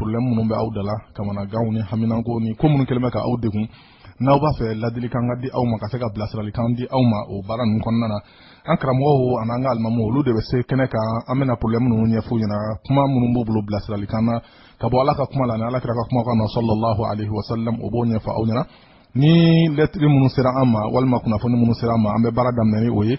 problème minnu bɛ aw da la kamanaganw ni haminanko ni ko minnu kɛlen bɛ ka aw degun n'aw b'a fɛ ladilikan ka di aw ma ka se ka bilasiralikan di aw ma o baara ninnu kɔnɔna na an karamɔgɔw an'an ka alimamuw olu de bɛ se kɛnɛ kan an bɛna problème ninnu ɲɛf'u ɲɛna kuma minnu b'u bolo bilasiralikan na ka bɔ ala ka kuma la ni ala kira ka kumakan na sallallahu alaihi wasallam u b'o ɲɛfɔ aw ɲɛna ni lɛtiri minnu sera an ma walima kunnafoni minnu sera an ma an bɛ baara daminɛ ni o ye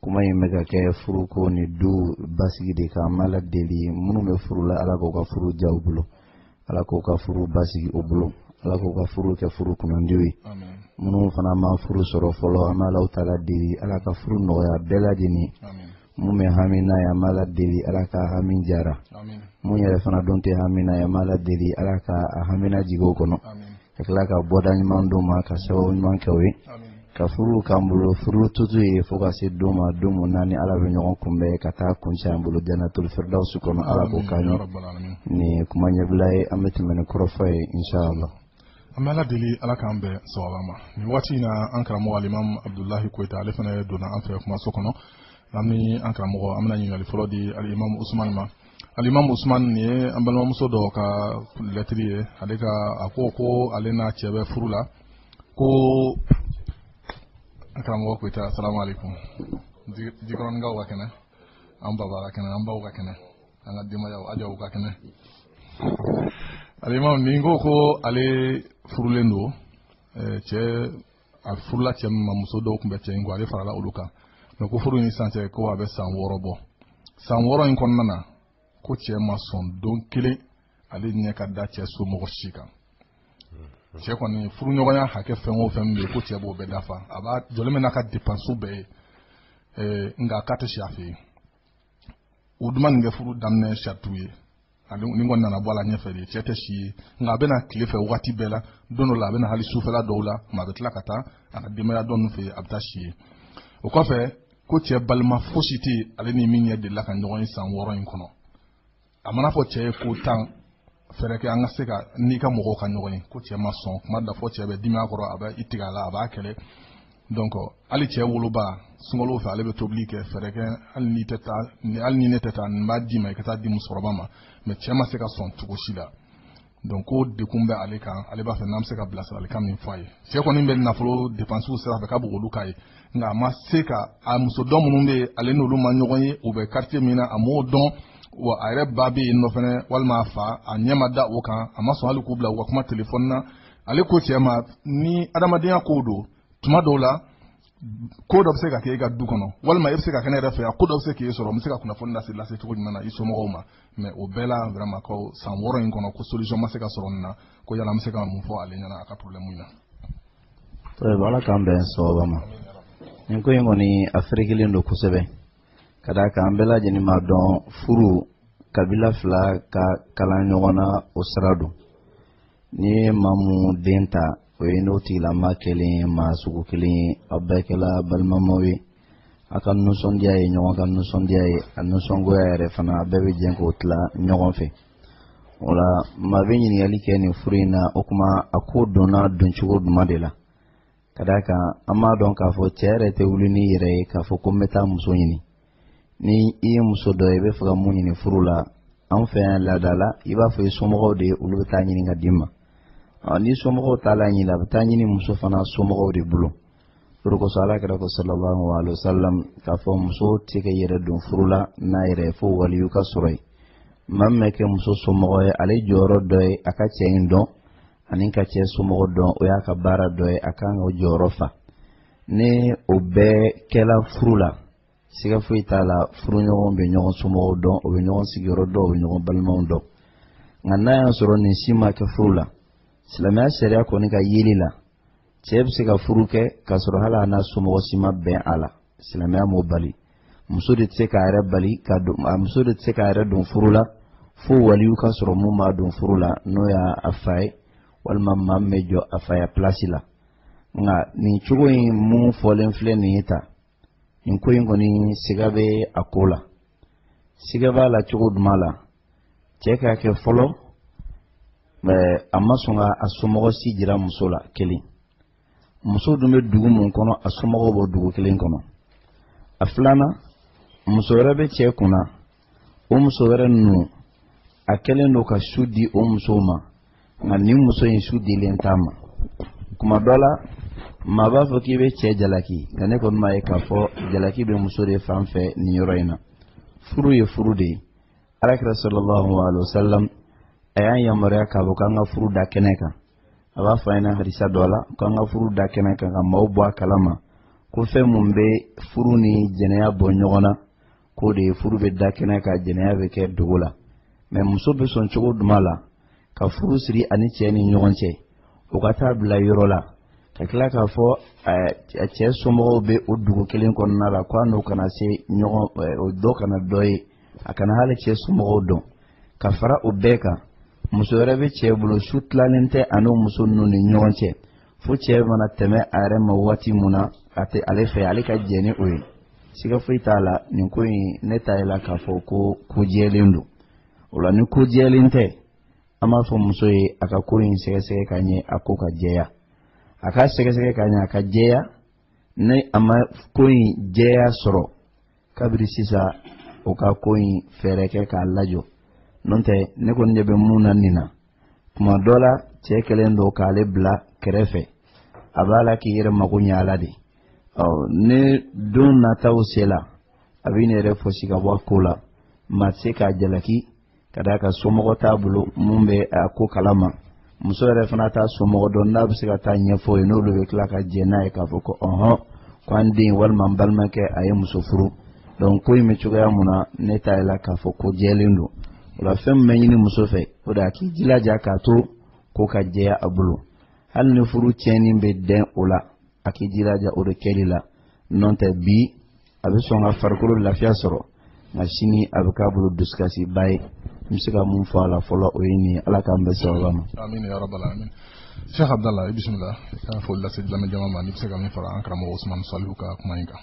kuma in bɛ ka kɛ furuko ni du basigi de kan an b'a la deli minnu bɛ furu la ala k'u ka furu ja u bolo ala k'u ka furu basigi u bolo ala k'u ka furu kɛ furu kunandiw ye minnu fana ma furu sɔrɔ fɔlɔ an b'a la u ta la deli ala ka furu nɔgɔya bɛɛ lajɛlen mun bɛ hami n'a ye an b'a la deli ala ka hami jara mun yɛrɛ fana dun tɛ hami n'a ye an b'a la deli ala ka a hami najigin o kɔnɔ ka tila ka bɔda ɲuman d'o ma ka sababu ɲuman k'o ye ka furu k'an bolo furu tutu ye fo ka se don ma don mun na an ni ala bɛ ɲɔgɔn kunbɛn ka taa kunc'an bolo jannatul firdawsi kɔnɔ ala k'o k'an ye nin kuma ɲɛbila ye an bɛ tɛmɛ ni kɔrɔfɔ ye insala an bɛ ala deli ala k'an bɛn sawaba ma nin waati in na an karamɔgɔ alimamu abudulahi koyita ale fana donna an fɛ kumaso kɔnɔ an bɛ an karamɔgɔ an bɛna ɲininkali fɔlɔ di alimamu usumani ma alimamu usumani nin ye an balimamuso dɔ ka lɛtiri ye ale ka a ko ko ale n'a cɛ bɛ furu la ko an karamɔgɔ koyita asalamu alaikum jikɔrɔninkaw ka kɛnɛ an baba ka kɛnɛ an baw ka kɛnɛ an ka denbayaw ajaw ka kɛnɛ alimamu nin ko ko ale furulen don cɛ a furula cɛ min ma muso dɔw tun bɛ cɛ in kun ale farala olu kan mais ko furu in san cɛ ko a bɛ san wɔɔrɔ bɔ san wɔɔrɔ in kɔnɔna na ko cɛ ma sɔn don kelen ale ɲɛ ka da cɛ somɔgɔ si kan cɛ kɔni furuɲɔgɔnya hakɛ fɛn o fɛn min bɛ ko cɛ b'o bɛɛ dafa a b'a jɔlen bɛ n'a ka dépense bɛɛ ye eh, nka k'a tɛ si a fɛ yen o dun ma nin kɛ furu daminɛ saratiw ye ani nin kɔni nana bɔ a la ɲɛfɛ de cɛ tɛ si yen nka a bɛ na tile fɛ waati bɛɛ la don dɔ la a bɛ na hali sufɛla dɔw la mais a bɛ tila ka taa a ka denbaya tɔ ninnu fɛ yen a bɛ taa si yen o kɔfɛ ko cɛ balima fosi tɛ yen ale ni min ɲɛ delila ka ɲɔgɔn ye san wɔɔrɔ in kɔnɔ a man'a fɔ cɛ ye ko tan fɛɛrɛ kɛ an ka se ka n'i ka mɔgɔw ka ɲɔgɔn ye ko cɛ ma sɔn kuma da fo cɛ bɛ dimi a kɔrɔ a bɛ i tigɛ a la a b'a kɛlɛ donc hali cɛ woloba sunkalo fɛ ale bɛ tobili kɛ fɛɛrɛ kɛ hali ni tɛ taa hali ni ne tɛ taa n b'a d'i ma i ka taa a di musokɔrɔba ma mais cɛ ma se ka sɔn cogo si la donc ko degun bɛ ale kan ale b'a fɛ n'an bɛ se ka bilasiralikan min fɔ a ye cɛ kɔni bɛ nafolo dépenses sira fɛ k'a b'olu k'a ye nka a ma se ka a muso tɔ minnu bɛ yen ale n'olu ma ɲɔgɔn ye u bɛ quartier min na a m'o dɔn wa a yɛrɛ ba bɛ yen o fɛnɛ walima a fa a ɲɛ ma da o kan a ma sɔn hali k'u bila u ka kuma telefɔni na ale ko cɛ ma ni adamadenya kow don tuma dɔw la ko dɔ bɛ se ka kɛ e ka du kɔnɔ walima e bɛ se ka kɛ ne yɛrɛ fɛ yan ko dɔ bɛ se k'e sɔrɔ n bɛ se ka kunnafoni lase lase cogo jumɛn na i somɔgɔw ma mais o bɛɛ la vraiment ko san wɔɔrɔ in kɔnɔ ko solution ma se ka sɔrɔ nin na ko yala an bɛ se ka mun fɔ ale ɲɛna a ka problème in na. tayibu ala k'an bɛn sawaba ma nin ko in kɔni a ferekelen don kosɛbɛ ka d'a kan an bɛɛ lajɛlen b'a dɔn furu kabila fila ka kalan ɲɔgɔn na o sira don. n'i ye maa mun den ta o y'i n'o tigilama kɛlen maa sugu kelen ye aw bɛɛ kɛla balimamaw ye a ka nisɔndiya ye ɲɔgɔn ka nisɔndiya ye a nisɔngoya yɛrɛ fana a bɛɛ bɛ jɛ k'o tila ɲɔgɔn fɛ o la maa bɛ ɲininkali kɛ nin furu in na o kuma a ko donna doncogo duman de la ka d'a kan an b'a dɔn k'a fɔ cɛ yɛrɛ tɛ wuli n'i yɛrɛ ye k'a fɔ ko n bɛ taa muso ɲini ni i ye muso dɔ ye i b'a fɛ ka mun ɲini furu la anw fɛ yan laada la i b'a fɔ i somɔgɔw de ye olu bɛ t'a ɲini k'a d'i ma n'i somɔgɔw taala a ɲini a bɛ t'a ɲini muso fana somɔgɔw de bolo o de kosɔn alakira ko sallallahu alaihi wa sallam k'a fɔ muso tɛ k'a yɛrɛ don furu la n'a yɛrɛ ye fo waliyu ka sɔrɔ yen maa min bɛ kɛ muso somɔgɔ ye ale jɔyɔrɔ dɔ ye a ka cɛ in dɔn ani ka cɛ somɔgɔ dɔn o y'a ka baara dɔ ye a kan ka o jɔyɔrɔ fa ni o bɛɛ kɛla furu la siga foyi t'a la furuɲɔgɔn bɛ ɲɔgɔn somɔgɔw dɔn o bɛ ɲɔgɔn sigiyɔrɔ dɔn o bɛ ɲɔgɔn balimaw dɔn nka n'a y'a sɔrɔ nin si ma kɛ furu la silamɛya sariya kɔni ka yeli la cɛ bɛ se ka furu kɛ k'a sɔrɔ hali a n'a somɔgɔ si ma bɛn a la silamɛya m'o bali muso de tɛ se k'a yɛrɛ bali ka don a muso de tɛ se k'a yɛrɛ don furu la fo waliyu ka sɔrɔ mun b'a don furu la n'o y'a fa ye walima maa min bɛ jɔ a faya pilasi la nka nin cogo in mun fɔlen filɛ nin ye tan nin ko in kɔni siga bɛ a ko la siga b'a la cogo duman la cɛ k'a kɛ fɔlɔ a ma sɔn ka a somɔgɔ si jira muso la kelen muso dun bɛ dugu mun kɔnɔ a somɔgɔw b'o dugu kelen kɔnɔ a filanan muso wɛrɛ bɛ cɛ kunna o muso wɛrɛ ninnu a kɛlen don ka su di o musow ma nka nin muso in su dilen t'a ma kuma dɔ la maa b'a fɔ k'i bɛ cɛ jalaki nka ne kɔni m'a ye k'a fɔ jalaki bɛ muso de fan fɛ nin yɔrɔ in na furu ye furu de ye alakira sallallahu alaihi wa sallam a y'an yamaruya k'a fɔ k'an ka furu da kɛnɛ kan a b'a fɔ an ɲɛna hadisa dɔ la ko an ka furu da kɛnɛ kan ka maaw bɔ a kala ma ko fɛn mun bɛ furu ni jɛnɛya bɔ ɲɔgɔn na k'o de ye furu bɛ da kɛnɛ kan jɛnɛya bɛ kɛ dogo la mais muso bɛ sɔn cogo duman la ka furu siri a ni cɛ ni ɲɔgɔn cɛ o ka t'a bila yɔrɔ la ka tila k'a fɔ a cɛ somɔgɔw bɛ o dugu kelen kɔnɔna la ko a n'o kana se ɲɔgɔn o dɔ kana dɔ ye a kana hali cɛ somɔgɔw dɔn ka fara o bɛɛ kan muso wɛrɛ bɛ cɛ bolo su tilalen tɛ a n'o muso ninnu ni ɲɔgɔn cɛ fo cɛ mana tɛmɛ a yɛrɛ ma waati mun na a tɛ ale fɛ ale ka jɛ ni o ye siga foyi t'a la nin ko in ne t'a ye la k'a fɔ ko ko jɛlen don o la ni ko jɛlen tɛ an b'a fɔ muso ye a ka ko in sɛgɛsɛgɛ ka ɲɛ a ko ka jɛya a k'a sɛgɛsɛgɛ ka ɲɛ a ka jɛya ni a ma ko in jɛya sɔrɔ kabiri sisan o ka ko in fɛɛrɛ kɛ k'a lajɔ n'o tɛ ne kɔni ɲɛ bɛ mun na nin na tuma dɔ la cɛ kɛlen don k'ale bila kɛrɛfɛ a b'a la k'i yɛrɛ mago ɲɛ a la de ɔ ni don nataw sela a bɛ n'i yɛrɛ fosi ka bɔ a ko la maa tɛ se k'a jalaki ka d'a kan somɔgɔ t'a bolo mun bɛ a ko kalama muso yɛrɛ fana t'a somɔgɔ dɔn n'a bɛ se ka taa ɲɛfɔ ye n'olu bɛ tila ka jɛ n'a ye k'a fɔ ko ɔhɔn ko an den walima n balimakɛ a ye muso furu donc ko in bɛ cogoya mun na ne t'a ye la k'a fɔ ko jɛlen don o la fɛn min bɛ ɲini muso fɛ o de a k'i jilaja k'a to ko ka jɛya a bolo hali ni furu tiɲɛni bɛ dɛn o la a k'i jilaja o de kɛli la n'o tɛ bi a bɛ sɔn ka farikolo lafiya sɔrɔ nka sini a bɛ k'a bolo dusukasiba ye n bɛ se ka mun fɔ a la fɔlɔ o ye nin ye ala k'an bɛn sababa ma. amina ya rabbal alamin sheikh abdallah i bisimila i ka foli lase lamɛnjama ma n'i bɛ se ka min fara an karamɔgɔ usman salihu ka kuma in kan.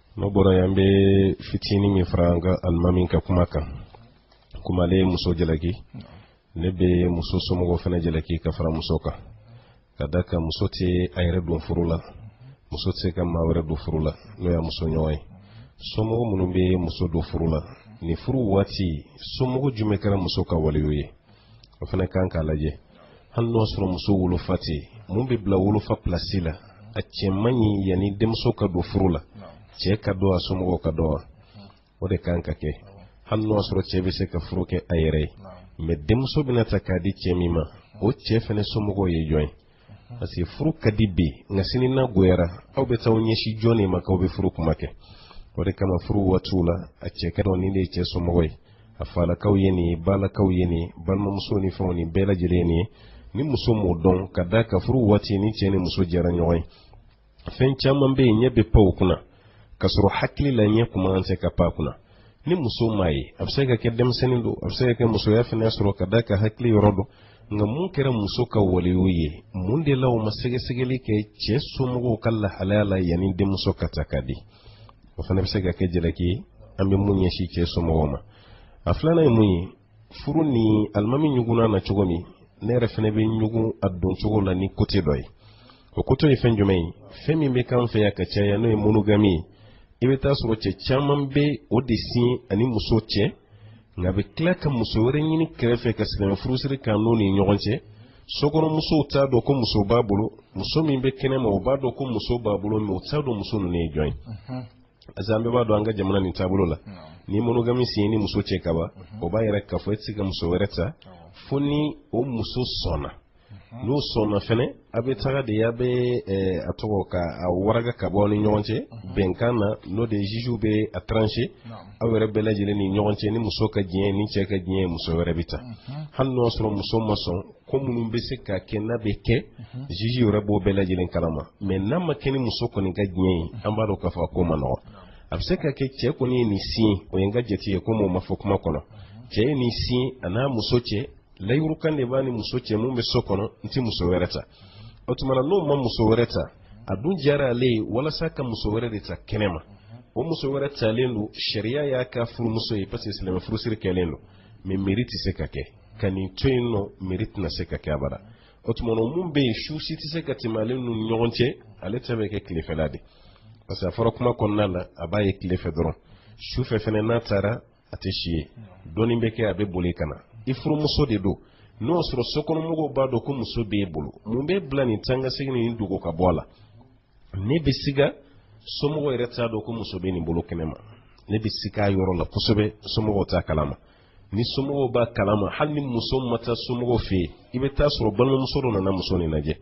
n'o bɔra yen an bɛ fitinin min fara an ka alimami ka kuma kan komi ale ye muso jalaki ne bɛ muso somɔgɔw fana jalaki ka fara muso kan ka d'a kan muso tɛ a yɛrɛ don furu la muso tɛ se ka maa wɛrɛ don furu la n'o y'a muso ɲɔgɔn ye somɔgɔ minnu bɛ muso don furu la nin furu waati somɔgɔ jumɛn kɛra muso ka waliyu ye o fana kan ka lajɛ hali n'o sɔrɔ muso wolofa tɛ mun bɛ bila wolofa pilasi la a cɛ man ɲi yanni denmuso ka don furu la cɛ ka dɔn a somɔgɔw ka dɔn wa o de kan ka kɛ hali n'o sɔrɔ cɛ bɛ se ka furu kɛ a yɛrɛ ye mais denmuso bɛna ta ka di cɛ min ma o cɛ fana somɔgɔw ye jɔn ye parce que furu ka di bi nka sini n'a goyara aw bɛ taa aw ɲɛsin jɔn de ma k'aw bɛ furu kuma kɛ o de kama furu waatiw la a cɛ ka dɔn nin de ye cɛ somɔgɔ ye a falakaw ye nin ye balakaw ye nin balimamuso ni fɛnw ni bɛɛ lajɛlen nin ye ni muso m'o dɔn ka d'a kan furu waati ni cɛ ni muso jɛra ɲɔgɔn ye fɛn caman bɛ yen ɲɛ bɛ pan u kunna ka sɔrɔ hakili la ɲɛ tun man kan ka pan a kunna ni muso m'a ye a bɛ se ka kɛ denmisɛnnin don a bɛ se ka kɛ musoya fana sɔrɔ ka d'a kan hakili yɔrɔ dɔn nka mun kɛra muso ka waliyu ye mun de la u ma sɛgɛsɛgɛli kɛ cɛ somɔgɔw ka lahalaya la yanni denmuso ka ta ka di o fana bɛ se ka kɛ jalaki ye an bɛ min ɲɛsin cɛ somɔgɔw ma a filanan ye mun ye furu nin alimami ɲugunna na cogo min ne yɛrɛ fana bɛ ɲugun a don cogo la ni kote dɔ ye o kote ye fɛn jumɛn ye fɛn min bɛ k'an fɛ yan ka caya n'o ye monogami ye i bɛ t'a sɔrɔ cɛ caman bɛ o de siɲɛ a ni muso cɛ nka a bɛ tila ka muso wɛrɛ ɲini kɛrɛfɛ ka silamɛ furusiri k'a n'o ni ɲɔgɔn cɛ sokɔnɔmusow t'a dɔn ko muso b'a bolo muso min bɛ kɛnɛ ma o b'a dɔn ko muso b'a bolo mais o t'a dɔn muso ninnu ye jɔn ye parce que an bɛɛ b'a dɔn an ka jamana nin taabolo la ni monogami siɲɛ ni muso cɛ kaban o b'a yira k'a fɔ e tɛ se ka muso wɛrɛ ta fo ni o muso sɔnna n'o sɔnna fɛnɛ a bɛ taga de a bɛ a tɔgɔ ka a waraka ka bɔ aw ni ɲɔgɔn cɛ bɛnkan na n'o de ye juges bɛ a trancher aw yɛrɛ bɛɛ lajɛlen ni ɲɔgɔn cɛ ni muso ka diɲɛ ni cɛ ka diɲɛ muso wɛrɛ bɛ ta mhm. hali n'o sɔrɔ muso ma sɔn ko minnu bɛ se ka kɛ n'a bɛ kɛ mhm. juge yɛrɛ b'o bɛɛ lajɛlen kalama mais n'a ma kɛ ni muso kɔni ka diɲɛ ye an b'a dɔn k'a fɔ k'o man nɔgɔ a bɛ se ka kɛ cɛ kɔni ye nin siɲɛ o ye n ka jate ye komi o ma fɔ kuma kɔnɔ mhm. cɛ ye nin siɲɛ a n'a muso cɛ layirukan de b'a ni muso cɛ min bɛ so kɔnɔ n tɛ muso wɛrɛ ta o tuma na n'o ma muso wɛrɛ ta a dun diyara ale ye walasa ka muso wɛrɛ de ta kɛnɛ ma o muso wɛrɛ talen don sariya y'a ka furumuso ye parce que silamɛ furusiri kɛlen don mais mairie tɛ se ka kɛ ka nin to yen non mairie tɛna se ka kɛ abada o tuma na mun bɛ yen su si tɛ se ka tɛmɛ ale n'u ni ɲɔgɔn cɛ ale ta bɛ kɛ tilefɛla de parce que a fɔra kuma kɔnɔna na a b'a ye tilefɛ dɔrɔn sufɛ fana n'a taara a tɛ si yen dɔɔnin bɛ kɛ a bɛ boli ka na i furumuso de don n'o y'a sɔrɔ sokɔnɔmɔgɔw b'a dɔn ko muso b'e bolo mun b'i bila nin taakasegin ni dogo ka bɔ a la ne bɛ siga somɔgɔw yɛrɛ t'a dɔn ko muso bɛ nin bolo kɛnɛ ma ne bɛ siga a yɔrɔ la kosɛbɛ somɔgɔw t'a kalama ni somɔgɔw b'a kalama hali ni muso ma taa somɔgɔw fɛ yen i bɛ t'a sɔrɔ balimamuso dɔ nana muso nin lajɛ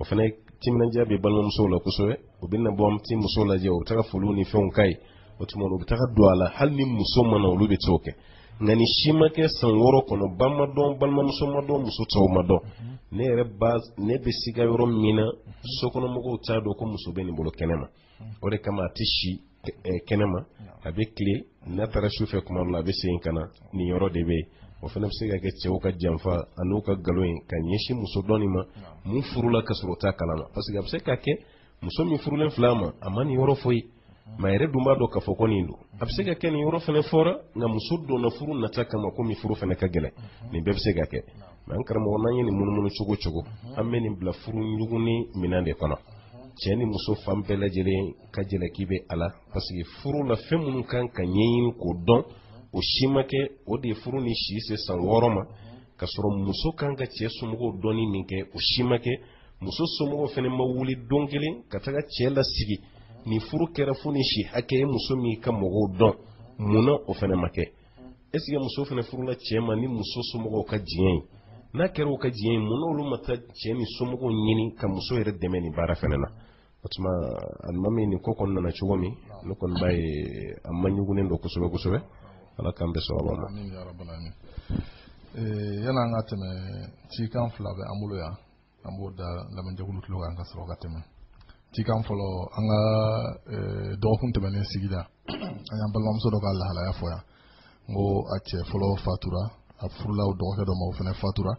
o fana timinandiya bɛ balimamusow la kosɛbɛ u bɛ na bɔ an bɛ muso lajɛ u bɛ taa foliw ni fɛnw k'a ye o tuma u bɛ taga don a la hali ni muso ma na olu bɛ t'o kɛ nka nin si ma kɛ san wɔɔrɔ kɔnɔ ba m'a dɔn balimamuso m'a dɔn muso tɔw m'a dɔn ne yɛrɛ ba ne bɛ siga yɔrɔ min na sokɔnɔmɔgɔw t'a dɔn ko muso bɛ nin bolo kɛnɛ ma o de kama a tɛ si kɛnɛ ma a bɛ tilen n'a taara su fɛ tuma dɔ la a bɛ segin ka na nin yɔrɔ de bɛ yen o fana bɛ se ka kɛ cɛw ka janfa an'u ka nkalon ye ka ɲɛsin muso dɔ nin ma min furula ka sɔrɔ o t'a kalama parce que a bɛ se ka kɛ muso min furulen filɛ a ma a ma nin yɔrɔ foyi ma yɛrɛ dun b'a dɔn k'a fɔ ko nin don a bɛ se ka kɛ nin yɔrɔ fana fɔra nka muso donna furu nata kama komi furu fana ka gɛlɛn nin bɛɛ bɛ se ka kɛ mais an karamɔgɔ n'an ye nin munumunu cogo o cogo an bɛ nin bila furu ɲugunni minɛn de kɔnɔ cɛ ni muso fan bɛɛ lajɛlen ka jalaki bɛ a la parce que furu la fɛn minnu kan ka ɲɛɲini k'o dɔn o si ma kɛ o de ye furu nin si se san wɔɔrɔ ma ka sɔrɔ muso kan ka cɛ somɔgɔw dɔnni min kɛ o si ma kɛ muso somɔgɔw fana ma wuli don kelen ka taga cɛ lasigi ni furu kɛra fo ni si hakɛ ye muso min ka mɔgɔw dɔn mun na o fana ma kɛ est-ce que muso fana furula cɛ ma ni muso somɔgɔw ka diɲɛ ye n'a kɛra u ka diɲɛ ye mun na olu ma taa cɛ ni somɔgɔw ɲini ka muso yɛrɛ dɛmɛ nin baara fana na o tuma alimami nin ko kɔni nana cogo min ne kɔni b'a ye a maɲugunnen don kosɛbɛ kosɛbɛ ala k'an bɛɛ sababa ma yan'an ka tɛmɛ cikan fila bɛ an bolo yan an b'o da lamɛnjɛkulu tulo kan ka sɔrɔ ka tɛmɛ cikan fɔlɔ an ka dɔgɔkun tɛmɛnen sigida an y'an balimamuso dɔ ka lahalaya fɔ yan n ko a cɛ fɔlɔ fatura a furula o dɔgɔkɛ dɔ ma o fana fatura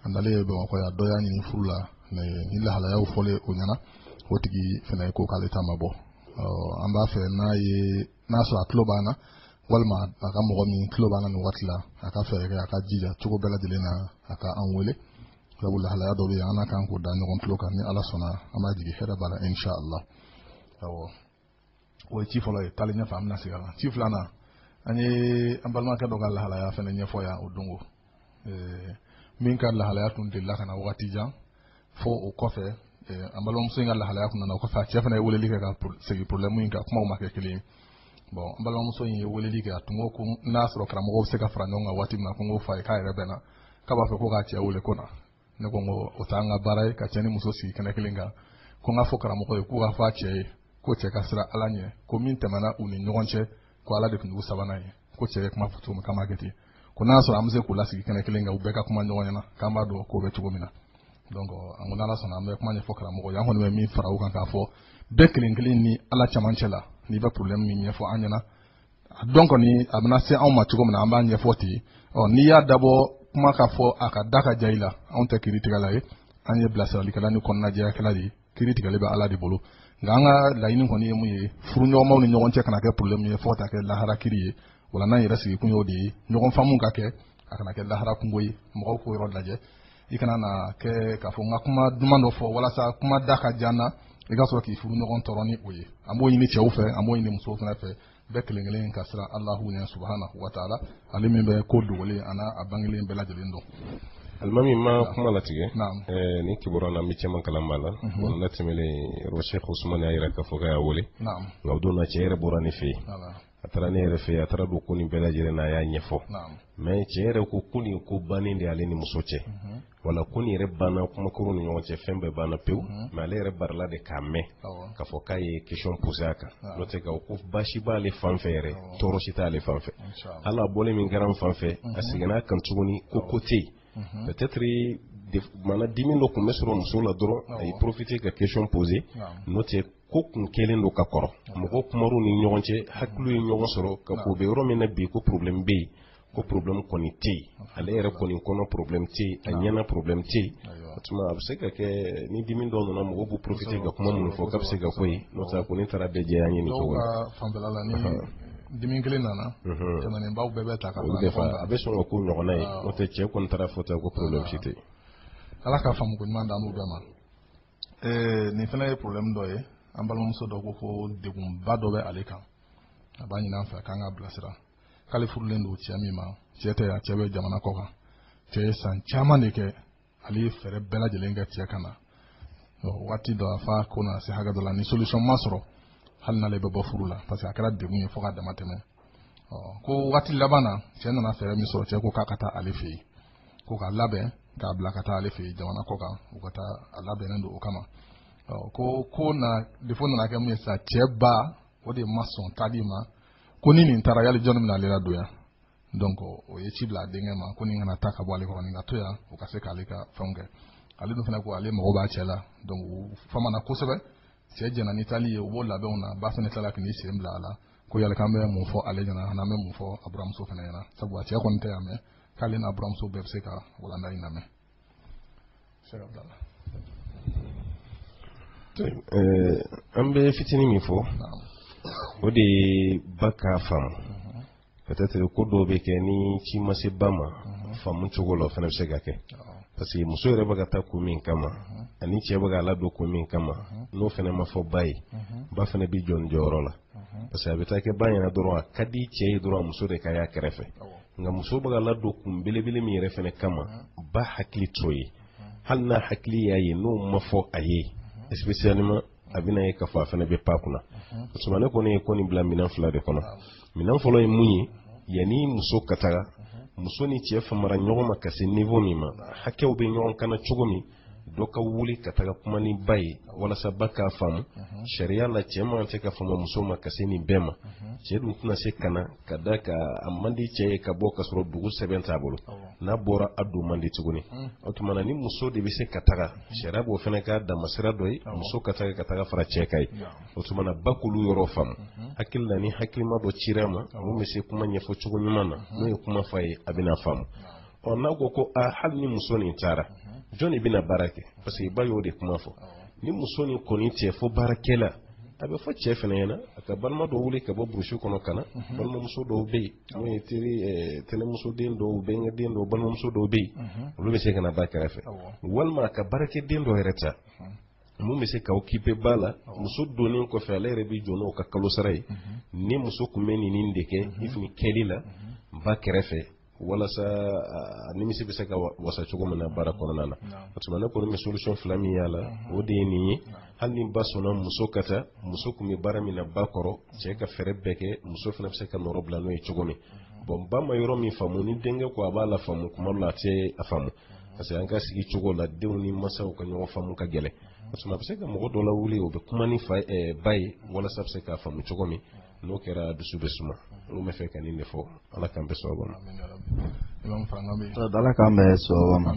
a nalen ye bamakɔ yan dɔ y'a ɲini furu la nin lahalayaw fɔlen o ɲɛna o tigi fana ko k'ale ta ma bɔ an b'a fɛ n'a ye n'a sɔrɔ a tulo b'an na walima a ka mɔgɔ min tulo b'an na nin waati la a ka fɛɛrɛ kɛ a ka jija cogo bɛɛ lajɛlen na a ka an wele sabu lahalaya dɔ bɛ yen an ka kan k'o da ɲɔgɔn tulo kan ni ala sɔnna an b'a jigi hɛrɛ b'a la insha allah awɔ o ye ci fɔlɔ ye taali ɲɛfɛ an bɛna segin a kan ci filanan an ye an balimakɛ dɔ ka lahalaya fana ɲɛfɔ yan o dɔn ko min ka lahalaya tun delila ka na waati jan fo o kɔfɛ an balimamuso in ka lahalaya tun nana o kɔfɛ a cɛ fana ye weleli kɛ ka segin problème in kan kumaw ma kɛ kelen ye bon an balimamuso in ye weleli kɛ a tun ko ko n'a sɔrɔ karamɔgɔw bɛ se ka fara ɲɔgɔn kan waati min na ko n k'o fɔ a ye k'a yɛrɛ bɛnna k'a b'a fɛ ko k'a cɛ wele ko na ne ko ko o t'an ka baara ye ka cɛ ni muso sigi kɛnɛ kelen kan ko n k'a fɔ karamɔgɔ ye k'u k'a fɔ a cɛ ye ko cɛ ka siran ala ɲɛ ko min tɛmɛna u ni ɲɔgɔn cɛ ko ala de tun y'u sabanan ye ko cɛ ye kuma fɔ cogo min k'a ma kɛ ten ko n'a sɔrɔ an bɛ se k'u lasigi kɛnɛ kelen kan u bɛɛ ka kuma ɲɔgɔn ɲɛna k'an b'a dɔn k'o bɛ cogo min na donc an ko n'ala sɔnna an bɛ kuma ɲɛfɔ karamɔgɔ ye an kɔni bɛ min fara u kan k'a fɔ bɛɛ kelen kelen ni ala camancɛ la n'i bɛ problème min ɲɛfɔ an ɲɛna a dɔn kɔni a bɛna se anw ma cogo min na an b'a ɲɛfɔ ten ɔ n'i y'a dabɔ kuma ka fɔ a ka da ka diya i la anw tɛ kiri tigɛla ye an ye bilasiralikɛla ni kɔnɔnajɛyakɛla de ye kiri tigɛli bɛ ala de bolo nka an ka laɲini kɔni ye mun ye furuɲɔgɔnmaw ni ɲɔgɔn cɛ kana kɛ problème ye fo ka taa kɛ lahara kiri ye wala n'an yɛrɛ sigikun y'o de ye ɲɔgɔn faamu ka kɛ a kana kɛ lahara kunko ye mɔgɔw k'o yɔrɔ lajɛ i kana na kɛ k'a fɔ n ka kuma duman dɔ fɔ walasa kuma da ka diya n na i ka sɔrɔ k'i furuɲɔgɔn tɔɔrɔ ni o ye an b'o ɲini cɛw fɛ an b'o ɲini musow fana fɛ bɛɛ kelen kelen ka siran alahu ɲɛ subahanahu wa taala ale min bɛ ko dogolen a n'a bangelen bɛɛ lajɛlen dɔn alimami n ma kuma latigɛ eh, nin kibaruya na an bɛ caman kalan b'a la mhm. wa n latɛmɛlen yɔrɔ sɛk usumani y'a jira k'a fɔ k'a y'a wele nka o don na cɛ yɛrɛ bɔra ne fɛ yen a taara ne yɛrɛ fɛ yen a taara don ko nin bɛɛ lajɛlen na a y'a ɲɛfɔ mais cɛ yɛrɛ ko ko nin ko bannen de y'ale ni muso cɛ mhm. wala ko nin yɛrɛ banna kuma kɛr'u ni ɲɔgɔn cɛ fɛn bɛɛ banna pewu mhm. mais ale yɛrɛ barila de k'a mɛn k'a fɔ k'a ye question poser a kan n'o tɛ ka ko baasi b'ale fan fɛ yɛrɛ tɔɔrɔ si t'ale fan fɛ hali a bɔlen min kɛra n fan fɛ a mhm. seginna a kan tuguni ko ko tɛ yen peut-être mana dimi dɔ tun bɛ sɔrɔ muso la dɔrɔn a ye profiter ka question poser n'o tɛ ko kun kelen don ka kɔrɔ mɔgɔ kumar'u ni ɲɔgɔn cɛ hakiliw ye ɲɔgɔn sɔrɔ ka ko bɛ yɔrɔ min na bi ko problème bɛ yen ko problème kɔni tɛ yen ale yɛrɛ kɔni kɔnɔ problème tɛ yen a ɲɛna problème tɛ yen o tuma a bɛ se ka kɛ ni dimi dɔ nana mɔgɔw b'u profiter ka kuma minnu fɔ k'a bɛ se ka k'o ye n'o tɛ ko ne taara bɛɛ jɛya ɲini cogo la dimi kelen nana tɛmɛnenbaw bɛɛ bɛ ta ka fara a bɛ sɔn ka k'o ɲɔgɔnna ye n'o tɛ cɛ kɔni taara fɔ ta ko problème si tɛ yen ala ka faamu ko ɲuman d'an n'u bɛɛ ma Ee nin fana ye problème dɔ ye an balimamuso dɔ ko ko degunba dɔ bɛ ale kan a b'a ɲini an fɛ k'an k'a bilasira k'ale furulen don cɛ min ma cɛ tɛ yan cɛ bɛ jamana kɔ kan cɛ ye san caman de kɛ ale ye fɛɛrɛ bɛɛ lajɛlen kɛ cɛ ka na waati dɔ a fa ko n'a se hakɛ dɔ la ni solution ma sɔrɔ hali n'ale bɛ bɔ furu la parce que a kɛra degun ye fo ka dama tɛmɛ ko waati laban na cɛ nana fɛɛrɛ min sɔrɔ cɛ ko k'a ka taa ale fɛ yen ko k'a labɛn k'a bila ka taa ale fɛ jamana kɔ kan u ka taa a labɛnnen don o kama ko ko na défaut nana kɛ mun ye sa cɛ ba o de ma sɔn taali ma ko ni nin taara yali jɔnni bɛna ale ladon yan donc o ye ci bila a denkɛ ma ko nin kana taa ka bɔ ale kɔrɔ nin ka to yan o ka se k'ale ka fɛnw kɛ ale dun fana ko ale mago b'a cɛ la donc u famana kosɛbɛ cɛ jɛna ni taali ye u b'o labɛnw na ba fana tilala k'i sen bila a la ko yala k'an bɛ mun fɔ ale ɲɛna an'an bɛ mun fɔ a buramuso fana ɲɛna sabu a cɛ kɔni tɛ yan mais k'ale n'a buramuso bɛɛ bɛ se ka walanda in lamɛn an bɛ fitinin min fɔ o de ye ba k'a faamu peut-être ko dɔw bɛ kɛ ni ci ma se ba ma faamu cogo la o fana bɛ se ka kɛ parce que muso yɛrɛ bɛ ka taa ko min kama ani cɛ bɛ k'a ladon ko min kama n'o fana ma fɔ ba ye ba fana bɛ jɔ nin jɔyɔrɔ la parce que a bɛ taa kɛ ba ɲɛna dɔrɔn a ka di cɛ ye dɔrɔn a muso de ka y'a kɛrɛfɛ nka muso bɛ ka ladon kun belebele min yɛrɛ fana kama ba hakili t'o ye hali n'a hakili y'a ye n'o ma fɔ a ye spécialement a bɛna ye k'a fɔ a fana bɛ pan kunna o tuma ne kɔni ye ko nin bila minɛn fila de kɔnɔ minɛn fɔlɔ ye mun ye yanni muso ka taga muso ni cɛ famara ɲɔgɔn ma ka se niveau min ma hakɛw bɛ ɲɔgɔn kan cogo min dɔ ka wuli ka taga kuma ni ba ye walasa ba k'a faamu sariya la cɛ man kan ka fama muso ma ka se nin bɛɛ ma cɛ dun tɛna se ka na ka d'a kan a man di cɛ ye ka bɔ ka sɔrɔ dugu sɛbɛn t'a bolo n'a bɔra a don man di tuguni o tuma na ni muso de bɛ se ka taga sariya b'o fana ka damasira dɔ ye muso ka taga ka taga fara cɛ kan yen o tuma na ba k'olu yɔrɔ faamu hakili la ni hakilima dɔ cira a ma mun bɛ se kuma ɲɛfɔ cogo ɲuman na n'o ye kuma f'a ye a bɛna faamu ɔ n'a ko ko a hali ni muso nin taara jɔn de bɛna baara kɛ parce que ba y'o de kuma fɔ ni muso nin kɔni tɛ fo baarakɛla a bɛ fɔ cɛ fana ɲɛna a ka balima dɔw wuli ka bɔ burusi kɔnɔ ka na mhm. balimamuso dɔw bɛ yen n'o ye teri eh, tɛnɛmusoden dɔw bɛnkɛden dɔw balimamuso dɔw bɛ yen mhm. olu bɛ se ka na ba kɛrɛfɛ walima a ka baarakɛden dɔ yɛrɛ ta mhm. mun bɛ se ka occuper ba la muso donnen kɔfɛ ale yɛrɛ bɛ jɔ n'o ka kalo sara ye ni muso tun bɛ nin nin de kɛ i tun kɛli la ba kɛrɛfɛ walasa a nimisi bɛ se ka wasa cogo min na baara kɔnɔna na o tuma ne kɔni bɛ solution fila min y'a la o de ye nin ye hali ni ba sɔnna muso ka taa muso tun bɛ baara min na ba kɔrɔ cɛ ka fɛɛrɛ bɛɛ kɛ muso fana bɛ se ka nɔrɔ bila n'o ye cogo min bon ba ma yɔrɔ min faamu ni denkɛ ko a b'a lafaamu kuma dɔ la a tɛ a faamu parce que an ka sigi cogo la denw ni masaw ka ɲɔgɔn faamu ka gɛlɛn o tuma a bɛ se ka mɔgɔ dɔ lawuli o bɛ kuma ni ba ye walasa a bɛ se k'a faamu cogo min n'o kɛra dusu bɛ suma n b'a fɛ ka nin de fɔ ala k'an bɛn sababu ma ala k'an bɛn sababu ma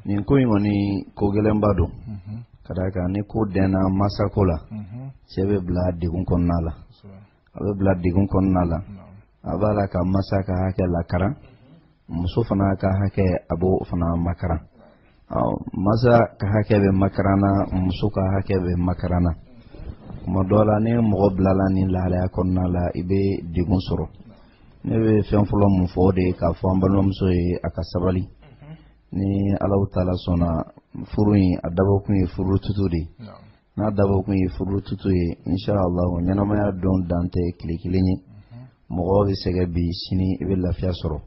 nin ko in kɔni ko gɛlɛnba don mhm. ka d'a kan ni ko dɛnna masako la mhm. cɛ bɛ bila degun kɔnɔna la a bɛ bila degun kɔnɔna la a b'a la ka masa ka hakɛ lakaran muso fana ka hakɛ a b'o fana makaran masa ka hakɛ bɛ makaran na muso ka hakɛ bɛ makaran na tuma dɔ la ni mɔgɔ bilala nin lahalaya kɔnɔna la i bɛ degun sɔrɔ ne bɛ fɛn fɔlɔ mun fɔ o de ye k'a fɔ an balimamuso ye a ka sabali ni alahu taala sɔnna furu in a dabɔkun ye furu tutu de ye n'a dabɔkun ye furu tutu ye inshallah ɲɛnamaya don dan tɛ tile kelen ye mɔgɔ bɛ sɛgɛn bi sini i bɛ lafiya sɔrɔ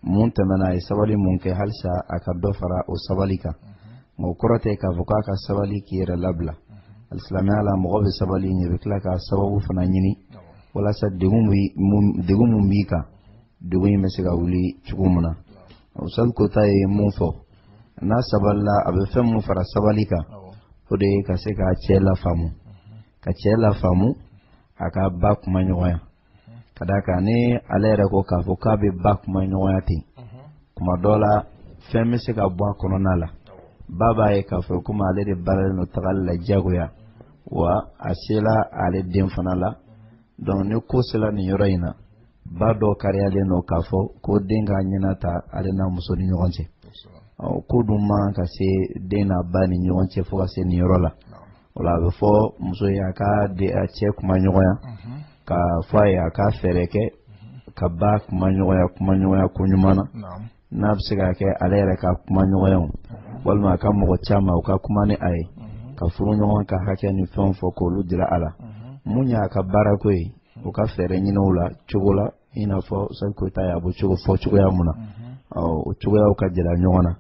mun tɛmɛna a ye sabali mun kɛ halisa a ka dɔ fara o sabali kan nka o kɔrɔ tɛ k'a fɔ k'a ka sabali k'i yɛrɛ labila alisilamɛya la mɔgɔ bɛ sabali i bɛ tila ka sababu fana ɲini walasa degun mun b'i kan degun in bɛ se ka wuli cogo min na ustaz kota ye mun fɔ n'a sabalila a bɛ fɛn mun fara sabali kan o de ye ka se ka cɛ lafaamu ka cɛ lafaamu a ka ba kuma ɲɔgɔnya ka d'a kan ni ale yɛrɛ ko k'a fɔ k'a bɛ ba kuma ɲɔgɔnya ten kuma dɔ la fɛn bɛ se ka bɔ a kɔnɔna la ba b'a ye k'a fɔ komi ale de baaralen don tagali la diyagoya wa a sela ale den fana la donc ni ko sela nin yɔrɔ in na ba dɔ kariyalen don k'a fɔ ko den ka ɲɛna ta ale n'a muso ni ɲɔgɔn cɛ ko dun man ka se den n'a ba ni ɲɔgɔn cɛ fo ka se nin yɔrɔ la o la a bɛ fɔ muso ye a ka de a cɛ kuma ɲɔgɔnya ka fɔ a ye a ka fɛɛrɛ kɛ ka ba kuma ɲɔgɔnya kuma ɲɔgɔnya ko ɲuman na n'a bɛ se ka kɛ ale yɛrɛ ka kuma ɲɔgɔnya walima a ka mɔgɔ caman u ka kuma ni a ye ka furu ɲɔgɔn ka hakɛ ni fɛnw fɔ k'olu jira a la mun y'a ka baarako ye u ka fɛɛrɛ ɲini o la cogo la i n'a fɔ ustaz koyita y'a bɔ cogo fɔ cogoya mun na o cogoyaw ka jira ɲɔgɔn na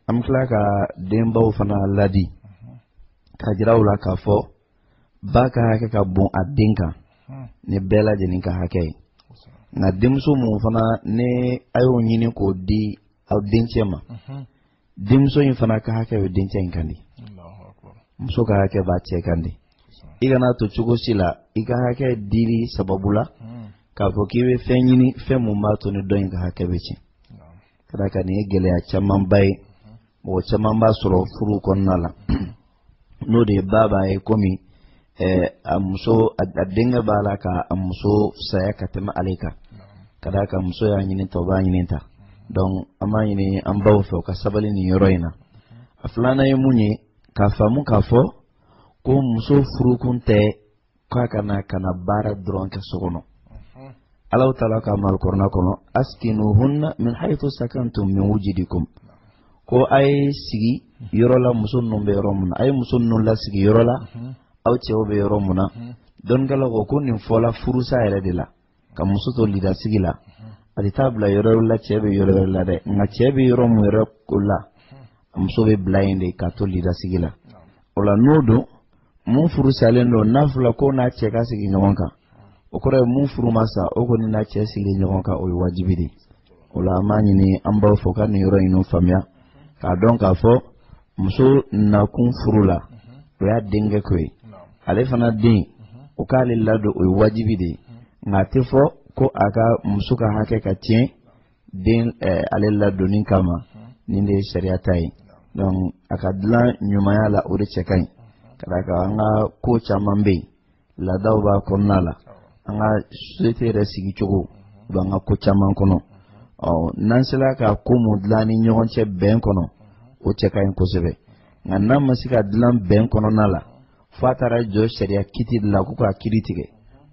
an bɛ tila ka denbaw fana ladi ka jira u la k'a fɔ ba ka hakɛ ka bon a den kan ni bɛɛ lajɛlen ka hakɛ ye nka denmuso mun fana ni a y'o ɲini k'o di aw dencɛ ma denmuso in fana ka hakɛ bɛ dencɛ in kan de muso ka hakɛ b'a cɛ kan de i kana to cogo si la i ka hakɛ dili sababu la hmm. k'a fɔ k'i bɛ fɛn ɲini fɛn mun b'a to ni dɔ in ka hakɛ bɛ tiɲɛ ka d'a kan nin ye gɛlɛya camanba ye hmm. mɔgɔ caman b'a sɔrɔ furu kɔnɔna la n'o de ye ba b'a ye komi a muso a denkɛ b'a la ka a muso fisaya ka tɛmɛ ale kan ka d'a kan muso y'a ɲini ta o b'a ɲini ta donc an b'a ɲini an baw fɛ u ka sabali nin yɔrɔ in na a filanan ye mun ye k'a faamu k'a fɔ ko muso furukun tɛ k'a ka na ka na baara dɔrɔn kɛ so kɔnɔ alahu taala kan b'alikurana kɔnɔ askinuhunna min haythu sakantum min wujidikum ko a ye sigi yɔrɔ la muso ninnu bɛ yɔrɔ min na a ye muso ninnu lasigi yɔrɔ la aw cɛw bɛ yɔrɔ min na dɔnnikɛlaw ko ko nin fɔla furusa yɛrɛ de la ka muso to lidasigi la a tɛ taa bila yɔrɔ wɛrɛ la cɛ bɛ yɔrɔ wɛrɛ la dɛ nka cɛ bɛ yɔrɔ min yɛrɛ ko la muso bɛ bila yen de ka to lidasigi la o la n'o don mun furu salen don n'a fɔra k'o n'a cɛ ka sigi ɲɔgɔn kan o kɔrɔ ye mun furu ma sa o kɔni n'a cɛ sigi ɲɔgɔn kan o ye wajibi de ye o la an b'a ɲini an baw fɛ ka nin yɔrɔ in faamuya k'a dɔn k'a fɔ muso nakun furu la o y'a denkɛ ko ye ale fana den o k'ale ladon o ye wajibi de ye nka a tɛ fɔ ko a ka muso ka hakɛ ka tiɲɛ den eh, ale ladonni kama nin de ye sariya ta ye donc a ka dilan ɲumanya la o de cɛ ka ɲi ka d'a kan an ka ko caman bɛ yen laadaw b'a kɔnɔna la an ka société yɛrɛ sigi cogo u b'an ka ko caman kɔnɔ ɔ n'an sera ka ko mun dilan ni ɲɔgɔn cɛ bɛn kɔnɔ o cɛ ka ɲi kosɛbɛ nka n'a ma se ka dilan bɛn kɔnɔna la fo a taara jɔ sariya kiti de la ko k'a kiiri tigɛ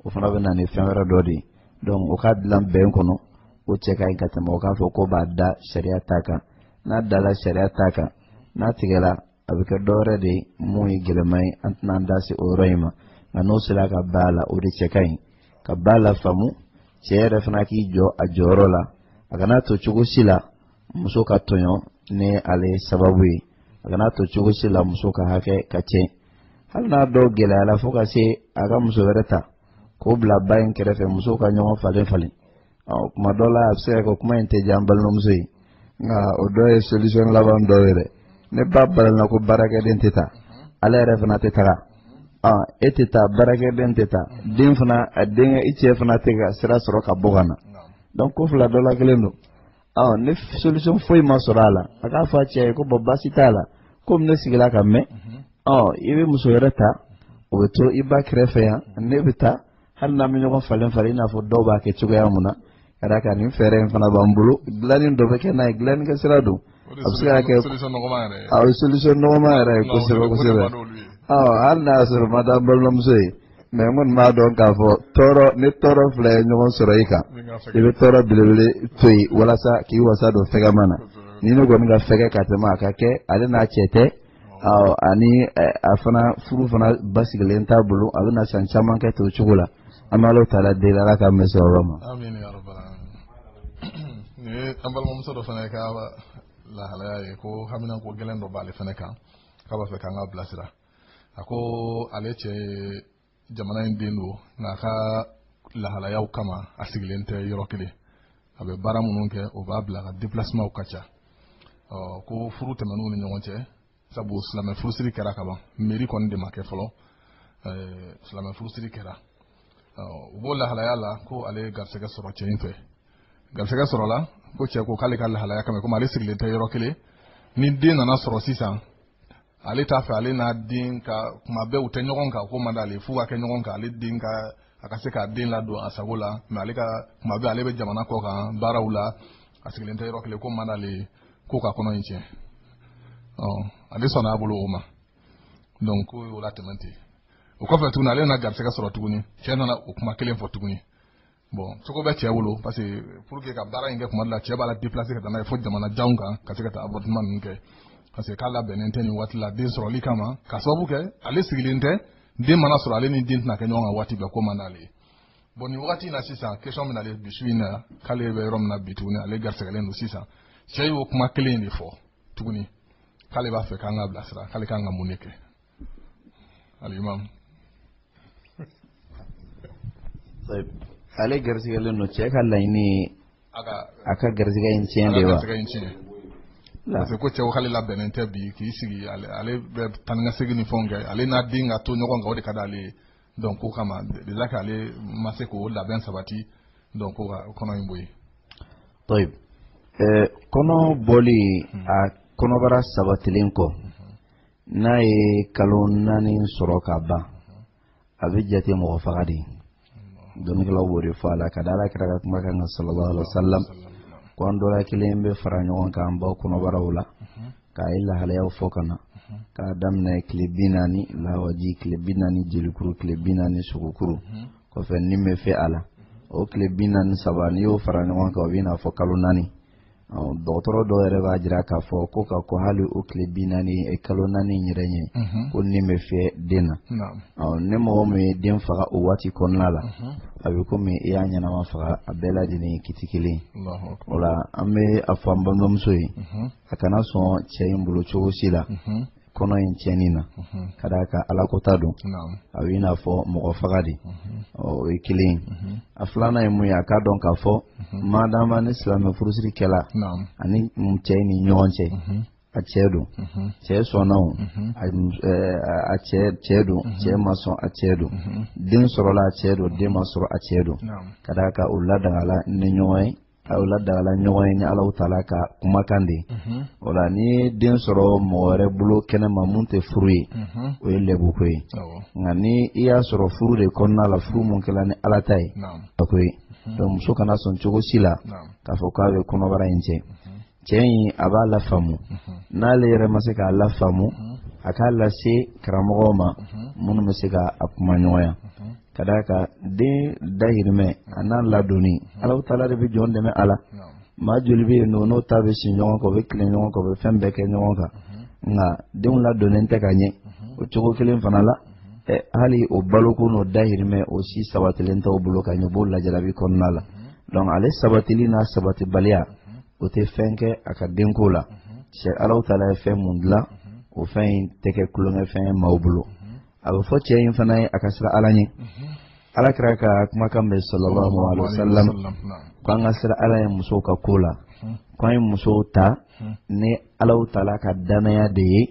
o fana bɛ na ni fɛn wɛrɛ dɔ de ye donc o ka dilan bɛn kɔnɔ o cɛ ka ɲi ka tɛmɛ o k'a fɔ k'u b'a da sariya ta kan n'a dala sariya ta kan n'a tigɛra a bɛ kɛ dɔwɛrɛ de ye mun ye gɛlɛman ye an tɛna an da se o yɔrɔ in ma nka n'o sera ka ba la o de cɛ ka ɲi ka ba lafaamu cɛ yɛrɛ fana k'i jɔ a jɔyɔrɔ la a kana to cogo si la muso ka tɔɲɔ ni ale sababu ye a kana to cogo si la muso ka hakɛ ka tiɲɛ hali n'a dɔw gɛlɛyara fo ka se a ka muso wɛrɛ ta k'o bila ba in kɛrɛfɛ musow ka ɲɔgɔn falen falen ɔ kuma dɔ la a bɛ se ka kɛ kuma in tɛ diya an balimamuso ye nka o dɔ ye solution laban dɔ ye dɛ ni ba balanna ko baarakɛden tɛ taa ale yɛrɛ fana tɛ taga ɔ e tɛ taa baarakɛden tɛ taa den fana a denkɛ i cɛ fana tɛ ka sira sɔrɔ ka bɔ ka na donc ko fila dɔ la kelen don ɔ ni solution foyi ma sɔrɔ a la a k'a fɔ a cɛ ye ko bɔn baasi t'a la komi ne sigila ka mɛn ɔ i bɛ muso wɛrɛ ta o bɛ to i ba kɛrɛfɛ yan ne bɛ taa hali n'an bɛ ɲɔgɔn falen falen i n'a fɔ dɔw b'a kɛ cogoya mun na ka d'a kan nin fɛɛrɛ in fana b'an bolo dilanni dɔ bɛ kɛ n'a ye dilanni kɛ sira don a bɛ se ka kɛ a bɛ solution nɔgɔma yɛrɛ ye kosɛbɛ kosɛbɛ hali n'a y'a sɔrɔ man d'an balimamuso ye mais n kɔni b'a dɔn k'a fɔ tɔɔrɔ ni tɔɔrɔ fila ye ɲɔgɔn sɔrɔ i kan i bɛ tɔɔrɔ belebele to yen walasa k'i wasa don fɛgɛma na nin in kɔni ka fɛgɛ ka tɛmɛ a ka kɛ ale n'a cɛ tɛ ani a fana furu fana basigilen t'a bolo a bɛna san caman kɛ to cogo la an b'ala taala deli ala ka mɛ sɔrɔ ma an balimamuso dɔ fana ka lahalaya ye ko hamina ko gɛlɛn dɔ b'ale fana kan k'a b'a fɛ k'an k'a bilasira a ko ale cɛ ye jamana in den don nk'a ka lahalayaw kama a sigilen tɛ yɔrɔ kelen a bɛ baara minnu kɛ o b'a bila a ka déplacementw ka ca ko furu tɛmɛn'u ni ɲɔgɔn cɛ sabu silamɛ furusiri kɛra ka ban mairie kɔni de ma kɛ fɔlɔ silamɛ furusiri kɛra u b'o lahalaya la ko ale ye garisɛgɛ sɔrɔ cɛ in fɛ garisɛgɛ sɔrɔla ko cɛ ko k'ale ka lahalaya kama komi ale sigilen tɛ yɔrɔ kelen ni den nana sɔrɔ sisan ale t'a fɛ ale n'a den ka kuma bɛɛ u tɛ ɲɔgɔn kan k'o man d'ale f'u ka kɛ ɲɔgɔn kan ale den ka a ka se k'a den ladon a sago la mais ale ka kuma bɛɛ ale bɛ jamana kɔ kan baaraw la a sigilen tɛ yɔrɔ kelen k'o man d'ale ye ko ka kɔnɔ in tiɲɛ ɔ ale sɔnna a bolo o ma donc ko o la tɛmɛn ten o kɔfɛ tuguni ale nana garisɛgɛ sɔrɔ tuguni cɛ nana o kuma kelen fɔ tuguni bon cogo bɛ cɛ bolo parce que pour que ka baara in kɛ kuma dɔ la cɛ b'a la déplacer ka taa n'a ye fo jamana janw kan ka se ka taa avortement ninnu kɛ parce que k'a labɛnnen tɛ nin waati la den sɔrɔli kama ka sababu kɛ ale sigilen tɛ den mana sɔrɔ ale ni den tɛna kɛ ɲɔgɔn kan waati bɛɛ k'o man d'ale ye bon nin wagati in na sisan question min ale bi su in na k'ale bɛ yɔrɔ min na bi tuguni ale garisɛgɛlen don sisan cɛ y'o kuma kelen de fɔ tuguni k'ale b'a fɛ k'an k'a bilasira k'ale kan ka mun de kɛ alimam ale garisigɛlen don cɛ ka laɲini a ka garisigɛ in tiɲɛ de wa parce que ko cɛ k'ale labɛnnen tɛ bi k'i sigi ale bɛ taa ni ka segin ni fɛnw kɛ ale n'a den ka to ɲɔgɔn kan o de ka d'ale ye donc k'o kama déjà k'ale ma se k'o labɛn sabati donc ko ka kɔnɔ in bɔ yen. tɔyi ɛɛ kɔnɔ bɔli a kɔnɔbara sabatilen kɔ n'a ye kalo naani sɔrɔ ka ban a bɛ jate mɔgɔ faga de ye dɔnnikɛlaw b'o de fɔ a la ka da ala kira ka kuma kan sallallahu alaihi wa sallam ko an dɔ la kelen bɛ fara ɲɔgɔn kan an baw kɔnɔbaraw la k'a ye lahalayaw fɔ ka na k'a daminɛ tile bi naani lawaji tile bi naani jelikuru tile bi naani sogokuru kɔfɛ ni bɛ fiyɛ a la o tile bi naani saba n'i y'o fara ɲɔgɔn kan o bɛ i n'a fɔ kalo naani dɔgɔtɔrɔ dɔw yɛrɛ b'a jira k'a fɔ ko ka ko hali o tile bi naani eh, kalo naani yɛrɛ ɲɛ mhm. ko ni bɛ fiyɛ den na ni mɔgɔ min ye den faga o waati kɔnɔna la mhm. a bɛ komi i y'a ɲɛnama faga a bɛɛ lajɛlen ye kiti kelen o la an bɛ a fɔ an balimamuso ye mhm. a kana sɔn cɛ in bolo cogo si la kɔnɔ in tiɲɛni na ka d'a kan alakota don a bɛ i n'a fɔ mɔgɔ faga de o ye kelen ye a filanan ye mun ye a k'a dɔn k'a fɔ madama ni silamɛ furusiri kɛla a ni cɛ ni ɲɔgɔn cɛ a cɛ don cɛ sɔnna o a cɛ don cɛ ma sɔn a cɛ don den sɔrɔla a cɛ don den ma sɔrɔ a cɛ don ka d'a kan o ladagala ni ɲɔgɔn ye aw ladagala ɲɔgɔn ye ni alahu taala ka kumakan de mhm. o la n'i ye den sɔrɔ mɔgɔ wɛrɛ bolo kɛnɛma mun tɛ furu ye mhm. o ye lɛbuko ye nka ni i y'a sɔrɔ furu de kɔnɔna la furu mun kɛla ni ala ta ye a ko ye mhm. donc muso kana sɔn cogo si la k'a fɔ k'a bɛ kɔnɔbara in tiɲɛ cɛ in a b'a lafaamu n'ale yɛrɛ ma se k'a lafaamu a k'a lase karamɔgɔw ma minnu bɛ se ka a kumaɲɔgɔnya ka d'a kan den dahirimɛ a n'a ladonni alahu taala de bɛ jɔn dɛmɛ a la maa joli bɛ yen n'o n'o ta bɛ si ɲɔgɔn kan o bɛ tilen ɲɔgɔn kan o bɛ fɛn bɛɛ kɛ ɲɔgɔn kan nka denw ladonnen tɛ ka ɲɛ o cogo kelen fana la ɛ hali o baloko n'o dahirimɛ o si sabatilen t'o bolo ka ɲɛ o b'o lajarabi kɔnɔna la donc ale sabatili n'a sabatibaliya o tɛ fɛn kɛ a ka denko la Alahu taala ye fɛn mun dilan o fɛn in tɛ kɛ tulonkɛfɛn ye maaw bolo a bɛ fɔ cɛ in fana ye a ka siran Ala ɲɛ Ala kira ka kumakan bɛ sallallahu alayhi wa sallam ko an ka siran Ala ye musow ka ko la ko an ye musow ta ni Alahu taala ka danaya de ye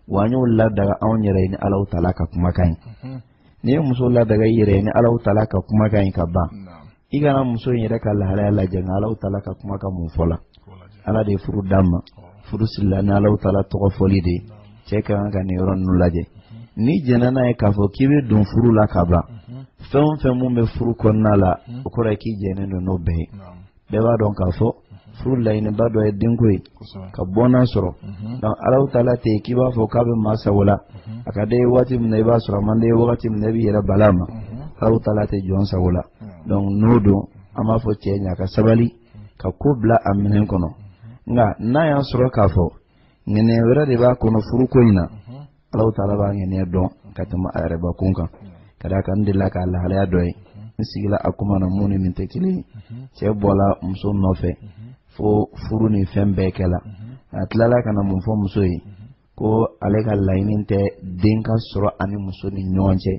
wa an y'o ladaga anw yɛrɛ ye ni Alahu taala ka kumakan ye n'i ye muso ladaga i yɛrɛ ye ni Alahu taala ka kumakan ye ka ban i kana muso in yɛrɛ ka lahalaya lajɛ nka Alahu taala ka kumakan mun fɔla Ala de ye furu d'a ma furu sirila ni Alahu taala tɔgɔ fɔli de ye cɛ ka kan ka nin yɔrɔ ninnu lajɛ n'i jɛnna n'a ye k'a fɔ k'i bɛ don furu la ka ban fɛn o fɛn mun bɛ furu kɔnɔna la o kɔrɔ ye k'i jɛnnen don n'o bɛɛ ye. bɛɛ b'a dɔn k'a fɔ furu laɲiniba dɔ ye denko ye ka bɔnna sɔrɔ donc Alahu taala tɛ k'i b'a fɔ k'a bɛ maa sago la a ka d'e ye waati min na i b'a sɔrɔ a man d'e ye wagati min na i b'i yɛrɛ bala a ma Alahu taala tɛ jɔn sago la donc n'o don an b'a fɔ cɛ in ye a ka sabali ka ko bila a minɛn kɔnɔ nka n'a y'a sɔrɔ k'a fɔ ŋaniya wɛrɛ de b'a kɔnɔ furuko in na Allahu taala b'a ŋaniya dɔn ka tɛmɛ a yɛrɛ bakun kan ka d'a kan n delila k'a lahalaya dɔ ye n sigila a kuma na mun ni nin tɛ kelen ye cɛ bɔla muso nɔfɛ fo furu ni fɛn bɛɛ kɛla a tilala ka na mun fɔ muso ye ko ale ka laɲini tɛ den ka sɔrɔ ani muso ni ɲɔgɔn cɛ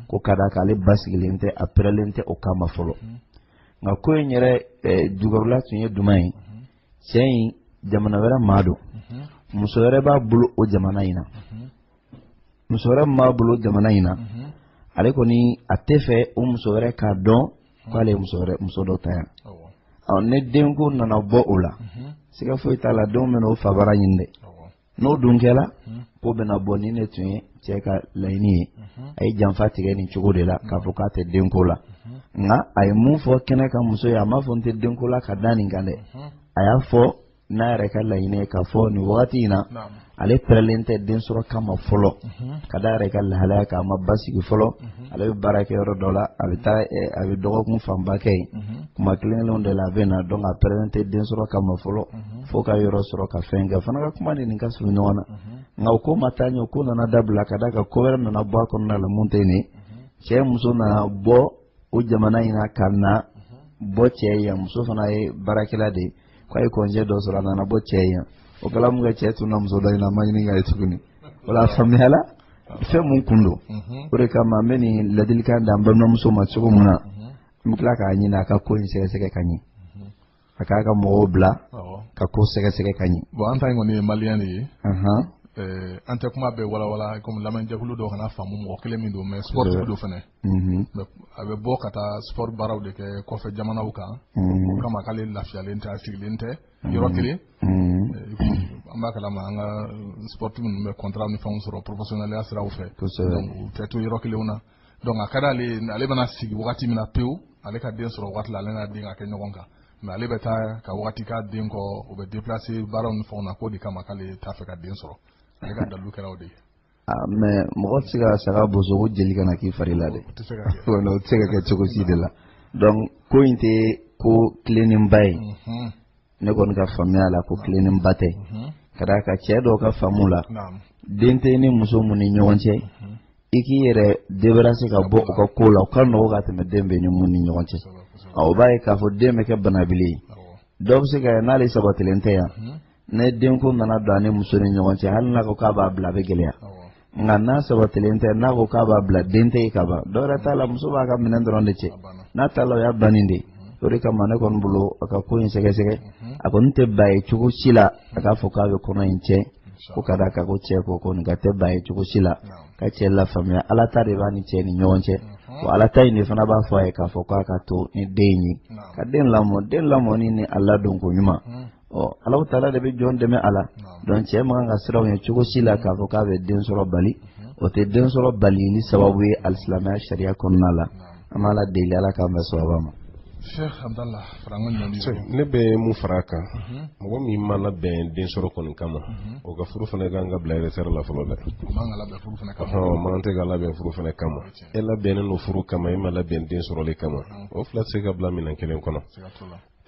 ko ka d'a kan ale basigilen tɛ a pɛrɛlen tɛ o kama fɔlɔ nka ko in yɛrɛ jukɔrɔla tun ye jumɛn ye cɛ in jamana wɛrɛ maa don muso wɛrɛ b'a bolo o jamana in na muso wɛrɛ min b'a bolo jamana in na ale kɔni a tɛ fɛ o muso wɛrɛ k'a dɔn k'ale ye muso wɛrɛ muso dɔ ta yan ni denko nana bɔ o la siga foyi t'a la denw bɛna o fabara ɲini dɛ n'o dun kɛla ko bɛna bɔ nin de tun ye cɛ ka laɲini ye a ye janfa tigɛ nin cogo de la k'a fɔ k'a tɛ denko la nka a ye mun fɔ kɛnɛ kan muso ye a m'a fɔ n tɛ denko la ka da nin kan dɛ a y'a fɔ n'a yɛrɛ ka laɲini ye k'a fɔ nin wagati in na ale pɛrɛlen tɛ den sɔrɔ kama fɔlɔ ka d'a yɛrɛ ka lahalaya kan a ma basigi fɔlɔ ale bɛ baara kɛ yɔrɔ dɔ la a bɛ taa a bɛ dɔgɔkun fanba kɛ yen kuma kelen-kelenw de la a bɛ na donc a pɛrɛlen tɛ den sɔrɔ kama fɔlɔ fo ka yɔrɔ sɔrɔ ka fɛn kɛ fana ka kuma de nin ka surun ɲɔgɔn na nka o ko ma taa ɲɛ o ko nana dabila ka d'a kan ko wɛrɛ nana bɔ a kɔnɔna la mun tɛ nin ye cɛ muso nana bɔ o jamana in na ka na bɔ cɛ yan muso fana ye baarakɛla de ye k'a ye kɔnjɛ dɔ sɔrɔ a nana bɔ cɛ ye o kala mun ka cɛ tun na muso dɔ in na ma ɲini k'a ye tuguni o la a faamuyala fɛn mun kun don mhm. o de kama n bɛ nin ladilikan d'an balimamuso ma cogo min na mhm. n bɛ tila k'a ɲini a ka ko in sɛgɛsɛgɛ ka ɲɛ mhm. a k'a ka mɔgɔw bila ka ko sɛgɛsɛgɛ ka ɲɛ. bɔn an ta in kɔni ye maliyɛn de ye. Eh, an tɛ kuma bɛɛ walawala komi lamɛnjɛkulu dɔ kana faamu mɔgɔ kelen min don mɛ sportif don fana Mhm. a bɛ bɔ ka taa sport baaraw de kɛ kɔfɛ jamanaw kan mhm. o kama k'ale lafiyalen tɛ a sigilen tɛ mhm. yɔrɔ kelen eh, an b'a kalama an ka sport minnu bɛ contrat ni fɛnw sɔrɔ professionnaliya siraw fɛ donc u tɛ to yɔrɔ kelenw na donc a ka d'ale ye ale bɛna sigi wagati min na pewu ale ka den sɔrɔ wagati la ale n'a den ka kɛ ɲɔgɔn kan mais ale bɛ taa ka wagati k'a den kɔ o bɛ déplacer baaraw ni fɛnw na k'o de kama k'ale t'a fɛ ka den sɔrɔ ale ka dalilu kɛra o de ye Ah, mɛ mɔgɔ tɛ se ka saga boso ko jeli kana k'i fari la dɛ o tɛ se ka kɛ wala o tɛ se ka kɛ cogo si de la donc ko in tɛ ko tilennenba ye Mhm, ne kɔni ka faamuya la ko tilennenba tɛ mhm, ka d'a kan cɛ dɔw ka faamu la naam, den t'i ni muso mun ni ɲɔgɔn cɛ mhm, i k'i yɛrɛ debarase ka bɔ o ka ko la o ka nɔgɔ ka tɛmɛ den b'i ni mun ni ɲɔgɔn cɛ kosɛbɛ, kosɛbɛ, Ɔ, o b'a ye k'a fɔ den bɛ kɛ banabili ye awɔ, dɔw bɛ se ka n'ale sabatilen tɛ yan mhm, ni denko nana don a ni muso ni ɲɔgɔn cɛ hali n'a ko k'a b'a bila a bɛ gɛlɛya nka n'a sabatilen tɛ n'a ko k'a b'a bila den tɛ yen ka ban dɔ wɛrɛ t'a la muso b'a ka minɛn dɔrɔn de cɛ n'a taala o y'a bannen de ye o de kama ne kɔni bolo a ka ko in sɛgɛsɛgɛ a kɔni tɛ ba ye cogo si la a k'a fɔ k'a bɛ kɔnɔ in tiɲɛ ko ka d'a kan ko cɛ ko kɔni ka tɛ ba ye cogo si la ka cɛ lafaamuya ala ta de b'a ni cɛ ni ɲɔgɔn cɛ wa ala ta in de fana b'a fɔ a ye k'a fɔ k'a ka to ni den in ye ka den lamɔ den lamɔni ni a ladonko ɲuman ɔ ala taala de bɛ jɔn dɛmɛ a la donc cɛ man kan ka siran o ɲɛ cogo si la k'a fɔ k'a bɛ den sɔrɔ bali o tɛ den sɔrɔ balili sababu ye alisilamɛya sariya kɔnɔna la an b'ala deli ala k'an bɛn sababa ma ne bɛ mun fara a kan mhm. mɔgɔ min ma labɛn den sɔrɔ kɔni kama mhm. o ka furu fana kan ka bila réserve la fɔlɔ dɛ maa tɛ ka labɛn furu fana kama e labɛnnen don furu kama e ma labɛn den sɔrɔli kama o fila tɛ se ka bila minɛn kelen kɔnɔ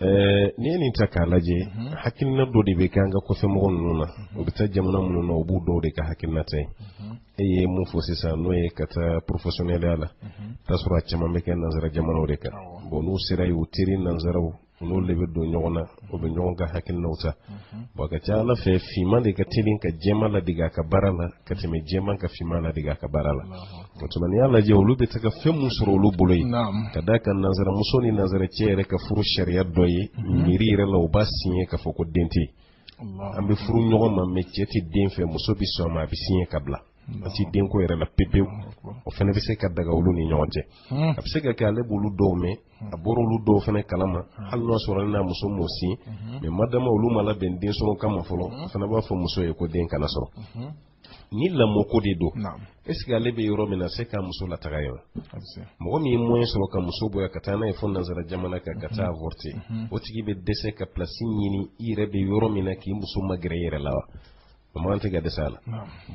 Eh, n'i ye nin ta k'a lajɛ mhm. hakilina dɔ de bɛ kɛ an ka kɔfɛmɔgɔ ninnu na mhm. u bɛ taa jamana minnu na u b'u dɔw de ka hakilina ta yen mhm. e ye mun fɔ sisan n'o ye ka taa porofesiyɔnɛliya la t'a sɔrɔ a caman bɛ kɛ nanzara jamanaw de kan bɔn n'u sera yen u teri nanzaraw n'olu de bɛ don ɲɔgɔn na o bɛ ɲɔgɔn ka hakilinaw ta bɔn a ka ca a la fɛ finman de ka teli ka jɛman ladege a ka baara la ka tɛmɛ jɛman ka finman ladege a ka baara la o tuma n'i y'a lajɛ olu bɛ taa fɛn min sɔrɔ olu bolo yen ka d'a kan nanzaramuso ni nanzaracɛ yɛrɛ ka furu sariya dɔ ye mhm. miiri yɛrɛ la u b'a siɲɛ k'a fɔ ko den tɛ an bɛ furu ɲɔgɔn ma mɛ cɛ tɛ den fɛ muso bɛ sɔn a ma a bɛ siɲɛ ka bila a tɛ denko yɛrɛ la pepewu o fana bɛ se ka daga olu ni ɲɔgɔn cɛ hmm. a bɛ se ka kɛ ale b'olu dɔw mɛn a bɔra olu dɔw fana kalama hali n'a sɔrɔ n'a muso m'o sin mais madama olu ma labɛn den sɔrɔ kama fɔlɔ a fana b'a fɔ muso ye ko den kana sɔrɔ ni lamɔko de don est ce que ale bɛ yɔrɔ min na se ka muso lataga yɔrɔ mɔgɔ min ye moyen sɔrɔ ka muso bɔ yan ka taa n'a ye fo nansara jamana kan ka taa avorter o tigi bɛ dɛsɛ ka place ɲini i yɛrɛ bɛ yɔrɔ min na k'i muso magɛrɛ i yɛrɛ la wa o man tɛ ka dɛsɛ a la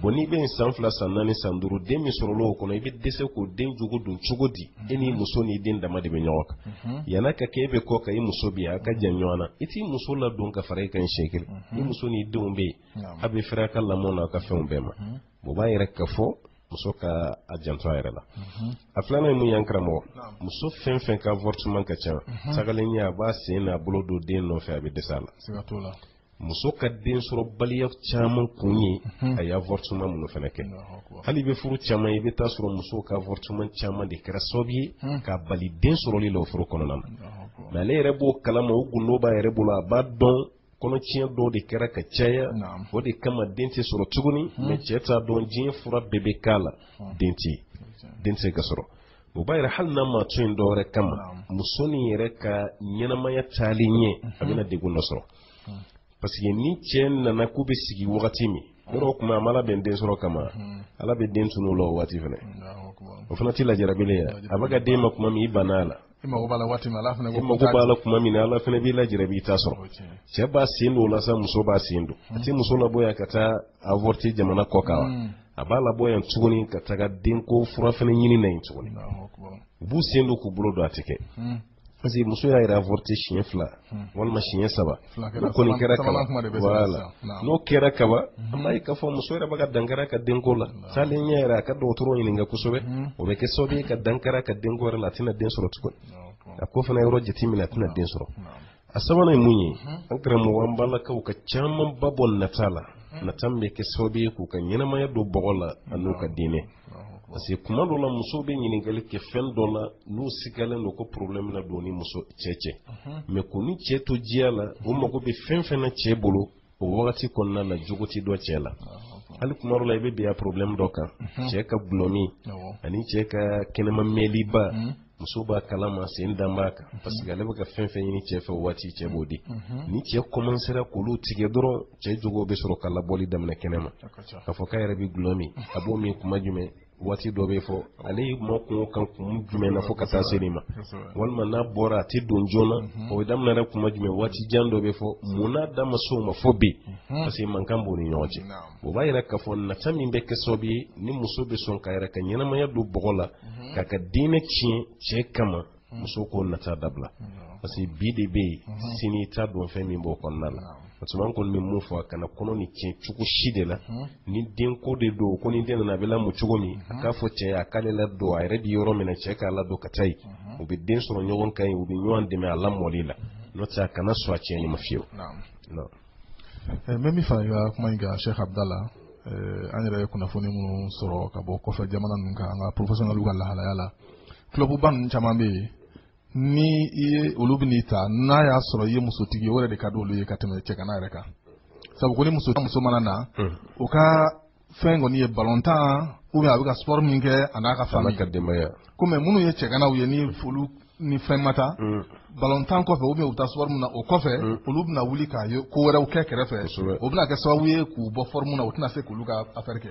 bon n'i bɛ yen san fila san naani san duuru den min sɔrɔla o kɔnɔ i bɛ dɛsɛ k'o den jogo dɔn cogo di e n'i muso n'i den dama de bɛ ɲɔgɔn kan mhm. yan'a ka kɛ e bɛ kɔ kan i muso bi a ka jan ɲɔgɔn na i t'i muso ladon ka fara i kan siɲɛ kelen mhm. i muso n'i denw bɛ yen a bɛ fɛrɛ a ka lamɔ n'a ka fɛnw bɛɛ ma mhm. o b'a yira k'a fɔ muso ka a janto a yɛrɛ la a filanan ye mun y'an karamɔgɔ muso fɛn fɛn ka avortement ka ca tagalen ɲɛ a b'a sen n'a bolo don den nɔfɛ a bɛ dɛsɛ a la muso ka den sɔrɔ baliya caman kun ye a ye avortement minnu fana kɛ hali bi furu caman i bɛ taa sɔrɔ musow ka avortement caman de kɛra sababu ye k'a bali den sɔrɔli la o furu kɔnɔna na mais ale yɛrɛ b'o kalama o gundo b'a yɛrɛ bolo a b'a dɔn kɔnɔtiɲɛ dɔw de kɛra ka caya o de kama den tɛ sɔrɔ tuguni mais cɛ t'a dɔn diɲɛ fura bɛɛ bɛ k'a la den tɛ den tɛ se ka sɔrɔ o b'a jira hali n'a ma to yen dɔwɛrɛ kama muso nin yɛrɛ ka ɲɛnamaya taalen ɲɛ a bɛna degun dɔ sɔrɔ parce que ni cɛ nana k'u bɛ sigi wagati min yɔrɔ kuma a ma labɛn den sɔrɔ kama ala bɛ den tunu la o waati fana o fana tɛ lajarabilen ye a bɛ ka den ma kuma min i banna a la i mago b'a la waati min ala fana ko mago b'a la kuma min ala fana b'i lajarabi i t'a sɔrɔ cɛ b'a sen don o la sa muso b'a sen don a tɛ muso labɔ yan ka taa avorter jamana kɔ kan wa a b'a labɔ yan tuguni ka taga denko fura fana ɲini na yen tuguni u b'u sen don k'u bolo don a tɛ kɛ hmm. parce que muso y'a yɛrɛ avorter siɲɛ fila hmm. walima siɲɛ saba o kɔni kɛra kaba voilà n'o kɛra kaba hmm. an b'a ye k'a fɔ muso yɛrɛ bɛ ka dankari a ka denko la taalen ɲɛ yɛrɛ a ka dɔgɔtɔrɔ ɲininka kosɛbɛ o bɛ kɛ sababu ye ka dankari a ka denko yɛrɛ la a tɛna den sɔrɔ tuguni a k'o fana yɔrɔ jateminɛ a tɛna den sɔrɔ a sabanan ye mun ye an karamɔgɔ an b'a la k'aw ka caman ba bɔ nata la nata min bɛ kɛ sababu ye k'u ka ɲɛnamaya don bɔgɔ la an'u ka diinɛ parce que kuma dɔ la musow bɛ ɲininkali kɛ fɛn dɔ la n'u sigalen don ko problème na don ni muso cɛ cɛ mais k'u ni cɛ to diya la u mago bɛ fɛn fɛn na cɛ bolo o wagati kɔnɔna na jogo tɛ dɔn cɛ la hali kuma dɔ la i bɛ bin a problème dɔ kan mhm. cɛ ka gulɔmin ani cɛ ka kɛnɛma mɛnliba mhm. muso b'a kalama sen dan b'a kan mhm. parce que ale bɛ ka fɛn fɛn ɲini cɛ fɛ o waati cɛ b'o di ni cɛ kɔmansera k'olu tigɛ dɔrɔn cɛ jogo bɛ sɔrɔ ka labɔli daminɛ kɛnɛ ma k'a fɔ k'a yɛrɛ bɛ gulɔ min a b'o min kuma jumɛn waati dɔ bɛ fɔ ale ma kuma o kan kun jumɛn na fo ka taa se nin ma walima n'a bɔra a tɛ don joona mhm. o daminɛra kuma jumɛn waati jan dɔ bɛ fɔ mhm. mun n'a da ma s'o ma fo bi mhm. parce que mankan b'u ni ɲɔgɔn cɛ o b'a yira k'a fɔ nata min bɛ kɛ sababu ye ni muso bɛ sɔn k'a yɛrɛ ka ɲɛnamaya don bɔgɔ la k'a ka diinɛ tiɲɛ cɛ kama muso k'o nata dabila parce que bi de bɛ yen mhm. sini t'a dɔn fɛn min b'o kɔnɔna la parce que an kɔni bɛ mun fɔ a kana kɔnɔ nin tiɲɛ cogo si de la mhm. ni den ko de don ko ni den nana a bɛ lamɔ cogo min na mhm. k'a fɔ cɛ a k'ale ladon a yɛrɛ bɛ yɔrɔ min na cɛ k'a ladon ka taa yen u bɛ den sɔrɔ ɲɔgɔn kan yen u bɛ ɲɔgɔn dɛmɛ a lamɔli la n'o tɛ a kana sɔn a tiɲɛni ma fiyewu. Eh, n bɛ min fara i ka kuma in kan Sheikh Abdala eh, an yɛrɛ ye kunnafoni minnu sɔrɔ ka bɔ kɔfɛ jamana ninnu kan an ka professionnels ka lahalaya la. clubba ninnu caman bɛ yen ni i ye olu bɛn'i ta n'a y'a sɔrɔ i ye musotigi ye o yɛrɛ de ka di olu ye ka tɛmɛ cɛgana yɛrɛ kan sabu ko ni muso muso mana na o ka fɛn kɔni ye balontan ou bien a bɛ ka sport min kɛ a n'a ka famille ka denbaya ko mais minnu ye cɛganaw ye ni folu ni fɛn ma taa balontan kɔfɛ ou bien u taa sport min na o kɔfɛ olu bɛna wuli k'a ye ko wɛrɛw kɛ kɛrɛfɛ o bɛna kɛ sababu ye k'u bɔ forme na u tɛna se k'olu ka affaire kɛ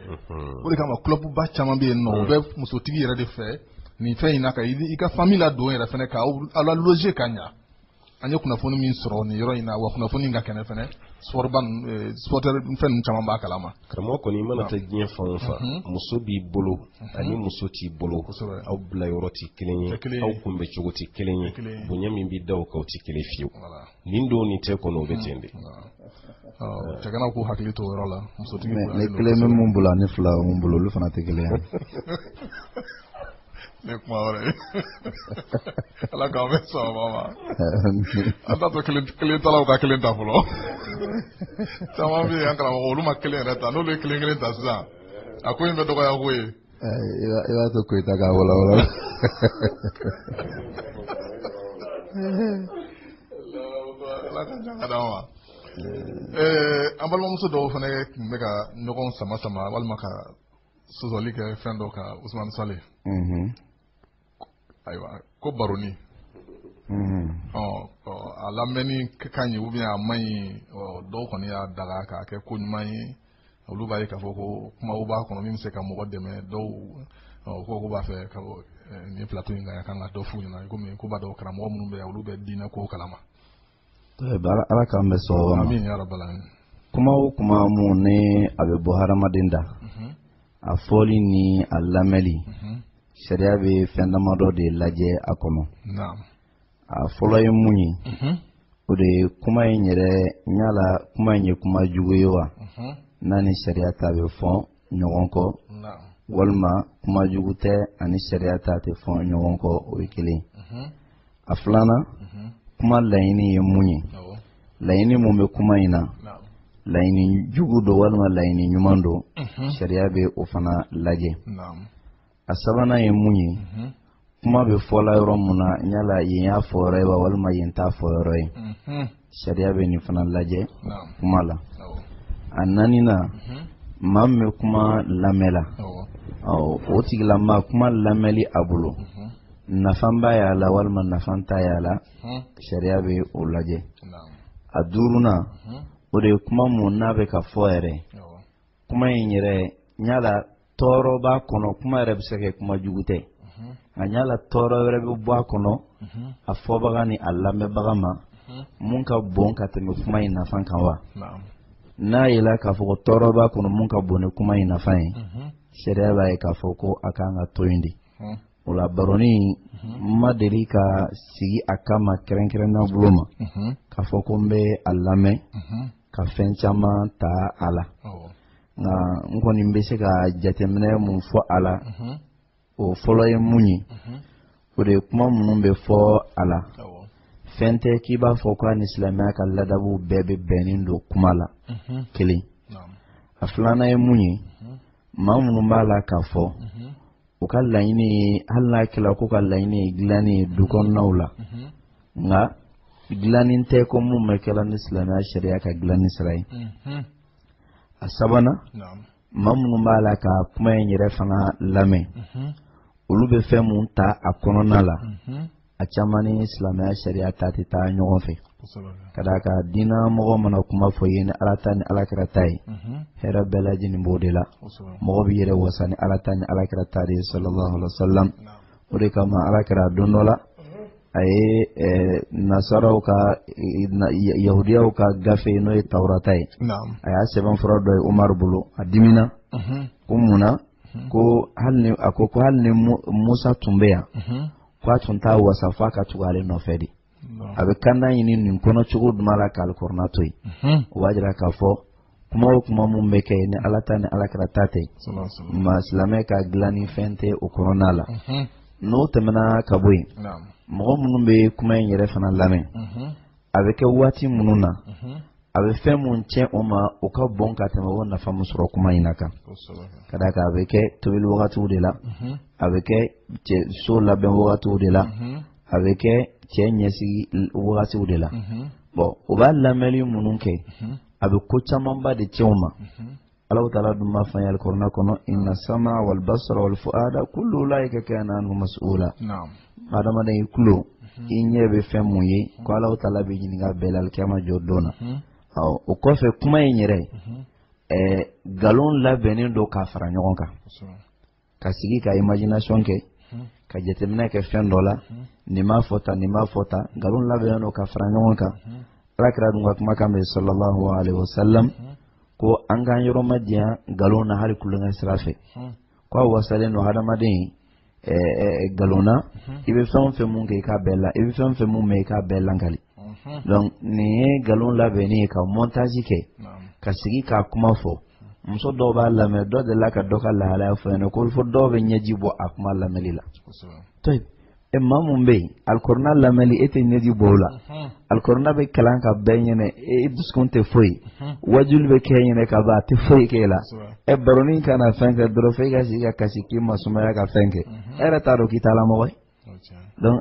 o de kama clubba caman bɛ yen nɔ u bɛ musotigi yɛrɛ de fɛ nin fɛn in ka i ka famille ladon yɛrɛ fana k'a la loger ka ɲɛ an ye kunnafoni min sɔrɔ nin yɔrɔ in na wa kunnafoni ka kɛnɛ fana sporteur fɛn caman b'a kalama karamɔgɔ kɔni i mana taa diɲɛ fan o fan mhm. muso b'i bolo mhm. ani muso t'i bolo aw bila yɔrɔ tɛ kelen ye aw kunbɛn cogo tɛ kelen ye bonya min bɛ da aw kan o tɛ kelen fiyewu nin don nin tɛ kɔni o bɛ ten de. cɛganaw k'u hakili to o yɔrɔ la musotigi. ne kelen bɛ min bolo ani fila bɛ min bolo olu fana tɛ kelen ye. ne kuma wɛrɛ ye ala k'aw bɛɛ sɔn saba ma an t'a to kelen talaw ka kelen ta fɔlɔ caman bɛ yen an karamɔgɔ olu ma kelen yɛrɛ ta n'olu ye kelen kelen ta sisan a ko in bɛ dɔgɔya ko ye i b'a to koyita k'a walawala ala ka jan ka d'an ma an balimamuso dɔw fana tun bɛ ka ɲɔgɔn sama sama walima ka sɔsɔli kɛ fɛn dɔ kan Usumani Sale ayiwa ko baroni a lamɛnni ka ɲi ou bien a man ɲi dɔw kɔni y'a daga k'a kɛ ko ɲuman ye olu b'a ye k'a fɔ ko kumaw b'a kɔnɔ min bɛ se ka mɔgɔ dɛmɛ dɔw ko k'u b'a fɛ ka nin plateau in kan a kan ka dɔ f'u ɲɛna komi k'u b'a dɔn karamɔgɔ minnu bɛ yan olu bɛ diinɛ kow kalama ala k'an bɛɛ sɔn o ma kuma o kuma min ni a bɛ bɔ hadamaden da mhm. a fɔli ni a lamɛnli mhm. sariya bɛ fɛn damadɔ de lajɛ a kɔnɔ a fɔlɔ ye mun ye mhm. o de ye kuma in yɛrɛ yala kuma in ye kuma jugu ye wa n'a ni sariya ta bɛ fɔ ɲɔgɔn kɔ walima kuma jugu tɛ a ni sariya ta tɛ fɔ ɲɔgɔn kɔ o ye kelen mhm. a filanan mhm. kuma laɲini ye mun ye laɲini min bɛ kuma in na laɲini jugu don walima laɲini ɲuman don mhm. sariya bɛ o fana lajɛ a sabanan ye mun ye kuma bɛ fɔla yɔrɔ mun na yala yen y'a fɔ yɔrɔ ye wa walima yen t'a fɔ yɔrɔ ye sariya bɛ nin fana lajɛ kuma la a naaninan maa min bɛ kuma lamɛn la o tigilamaa kuma lamɛnli a bolo nafan b'a y'a la walima nafan t'a y'a la sariya bɛ o lajɛ a duurunan o de ye kuma mun n'a bɛ ka fɔ yɛrɛ kuma in yɛrɛ yala tɔɔrɔ b'a kɔnɔ kuma yɛrɛ bɛ se ka kɛ kuma jugu tɛ nka yala tɔɔrɔ wɛrɛ bɛ bɔ a kɔnɔ a fɔbaga ni a lamɛnbaga ma mun ka bon ka tɛmɛ kuma in nafa kan wa n'a yela k'a fɔ ko tɔɔrɔ b'a kɔnɔ mun ka bon ni kuma in nafa ye sariya b'a ye k'a fɔ ko a kan ka to yen de o la baroni n ma deli ka sigi a kama kɛrɛnkɛrɛnna bolo ma k'a fɔ ko n bɛ a lamɛn ka fɛn caman ta a la nka n kɔni bɛ se ka jateminɛ mun fɔ a la o fɔlɔ ye mun ye o de ye kuma minnu bɛ fɔ a la fɛn tɛ k'i b'a fɔ k'a ni silamɛya ka ladabu bɛɛ bɛ bɛnnen don kuma la kelen a filanan ye mun ye maa minnu b'a la k'a fɔ u ka laɲini ye hali n'a kɛra k'o ka laɲini ye dilanni ye du kɔnɔnaw la nka dilanni tɛ ko mun bɛ kɛla ni silamɛya sariya ka dilanni sira ye a sabanan maa minnu b'a la ka kuma in yɛrɛ fana lamɛn olu bɛ fɛn mun ta a kɔnɔna la a caman ni silamɛya sariya ta tɛ taa ɲɔgɔn fɛ ka d'a kan diinɛ mɔgɔ mana kuma fɔ i ye ni ala ta ni alakira ta ye hɛrɛ bɛɛ lajɛlen b'o de la mɔgɔ b'i yɛrɛ wasa ni ala ta ni alakira ta de ye sallallahu alaihi wa sallam o de kama alakira don dɔ la a ye nasaraw ka yahudiyaw ka gafe n'o ye tawurata ye a y'a sɛbɛnfura dɔ ye umaru bolo a dimina ko mun na ko hali ni a ko ko hali ni musa tun bɛ yan ko a tun t'a wasa f'a ka tugu ale nɔfɛ de a bɛ kanda ɲini nin kɔnɔ cogo duman la k'alikurana to yen o b'a jira k'a fɔ kuma o kuma minnu bɛ kɛ ni ala ta ni alakira ta tɛ maa silamɛ ka dilanni fɛn tɛ o kɔnɔna la mhm. n'o tɛmɛna ka bɔ yen mɔgɔ minnu bɛ kuma in yɛrɛ fana lamɛn mhm. a bɛ kɛ waati minnu na mhm. a bɛ fɛn minnu tiɲɛ o ma o ka bon ka tɛmɛ o nafa min sɔrɔ kuma in na kan ka d'a kan a bɛ kɛ tobili wagatiw de la a bɛ kɛ so labɛn wagatiw de la a bɛ kɛ cɛ ɲɛsigi wagatiw de la bon o b'a lamɛnni minnu kɛ a bɛ ko camanba de tiɲɛ o ma allahu ta'ala dun b'a f'an ye alikurana kɔnɔ inna sama wal basara wal fuada kullu ulaika kana anhu mas'ula adamaden i tulo i ɲɛ bɛ fɛn mun ye ko allahu ta'ala b'i ɲininka bɛɛ la alikiyama jɔ don na o kɔfɛ kuma in yɛrɛ ɛɛ nkalon labɛnnen don k'a fara ɲɔgɔn kan ka sigi ka imagination kɛ ka jateminɛ kɛ fɛn dɔ la nin m'a fɔ tan nin m'a fɔ tan nkalon labɛnnen don ka fara ɲɔgɔn kan ala kira dun ka kumakan bɛ sallallahu alaihi wasallam ko an k'an yɔrɔmajanya nkalon na hali tulonkɛ sira fɛ ko a wasalen don hadamaden nkalon na i bɛ fɛn o fɛn mun kɛ i k'a bɛɛ la i bɛ fɛn o fɛn mun mɛn i k'a bɛɛ lakali donc nin ye nkalon labɛnni ye ka montage kɛ ka sigi k'a kuma fɔ muso dɔw b'a lamɛn dɔ delila ka dɔ ka lahalaya fɔ n ɲɛna ko fo dɔw bɛ ɲɛji bɔ a kuma lamɛnni la to yen e maa mun bɛ yen alikurana lamɛnni e tɛ ɲɛji bɔ o la alikurana bɛ kalan ka ban e ɲɛna e dusukun tɛ foyi wajuli bɛ kɛ e ɲɛna ka ban a tɛ foyi k'e la ɛ baroni ka na fɛn kɛ dɔrɔn fo e ka sigi ka kasi k'i masumaya ka fɛn kɛ e yɛrɛ t'a dɔn k'i t'ala mɔgɔ ye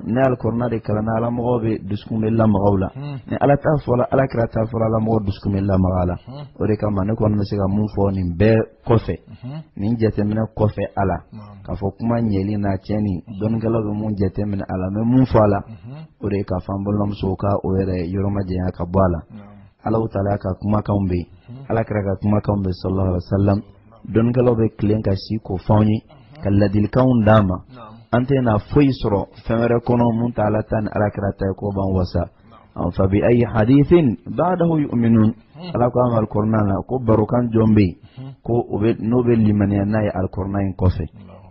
ni alikurana de kalanna ala mɔgɔw bɛɛ dusukun bɛ lamaga o la ni ala ta fɔla ala kira ta fɔla ala mɔgɔ dusukun bɛ lamaga o la o de kama ne kɔni bɛ se ka mun fɔ nin bɛɛ kɔfɛ nin jateminɛ kɔfɛ a la k'a fɔ kuma ɲɛli n'a tiɲɛni dɔnnikɛlaw bɛ mun jateminɛ a la n bɛ mun fɔ a la o de k'a fɔ an balimamusow ka u yɛrɛ yɔrɔmajanya ka bɔ a la ala taala ka kumakan bɛ ala kira ka kumakan bɛ sala dɔnnikɛlaw bɛ tilen ka si k'o fɔ an ye ka ladilikanw d'an ma an tɛna foyi sɔrɔ fɛn wɛrɛ kɔnɔ min tɛ ala ta ni ala kira ta ye k'o b'an wasa fa bi ayi hadisin badahu yuminun ala ko an ma alikurana na ko barokan jɔn bɛ yen ko o bɛ n'o bɛ limaniya n'a ye alikurana in kɔfɛ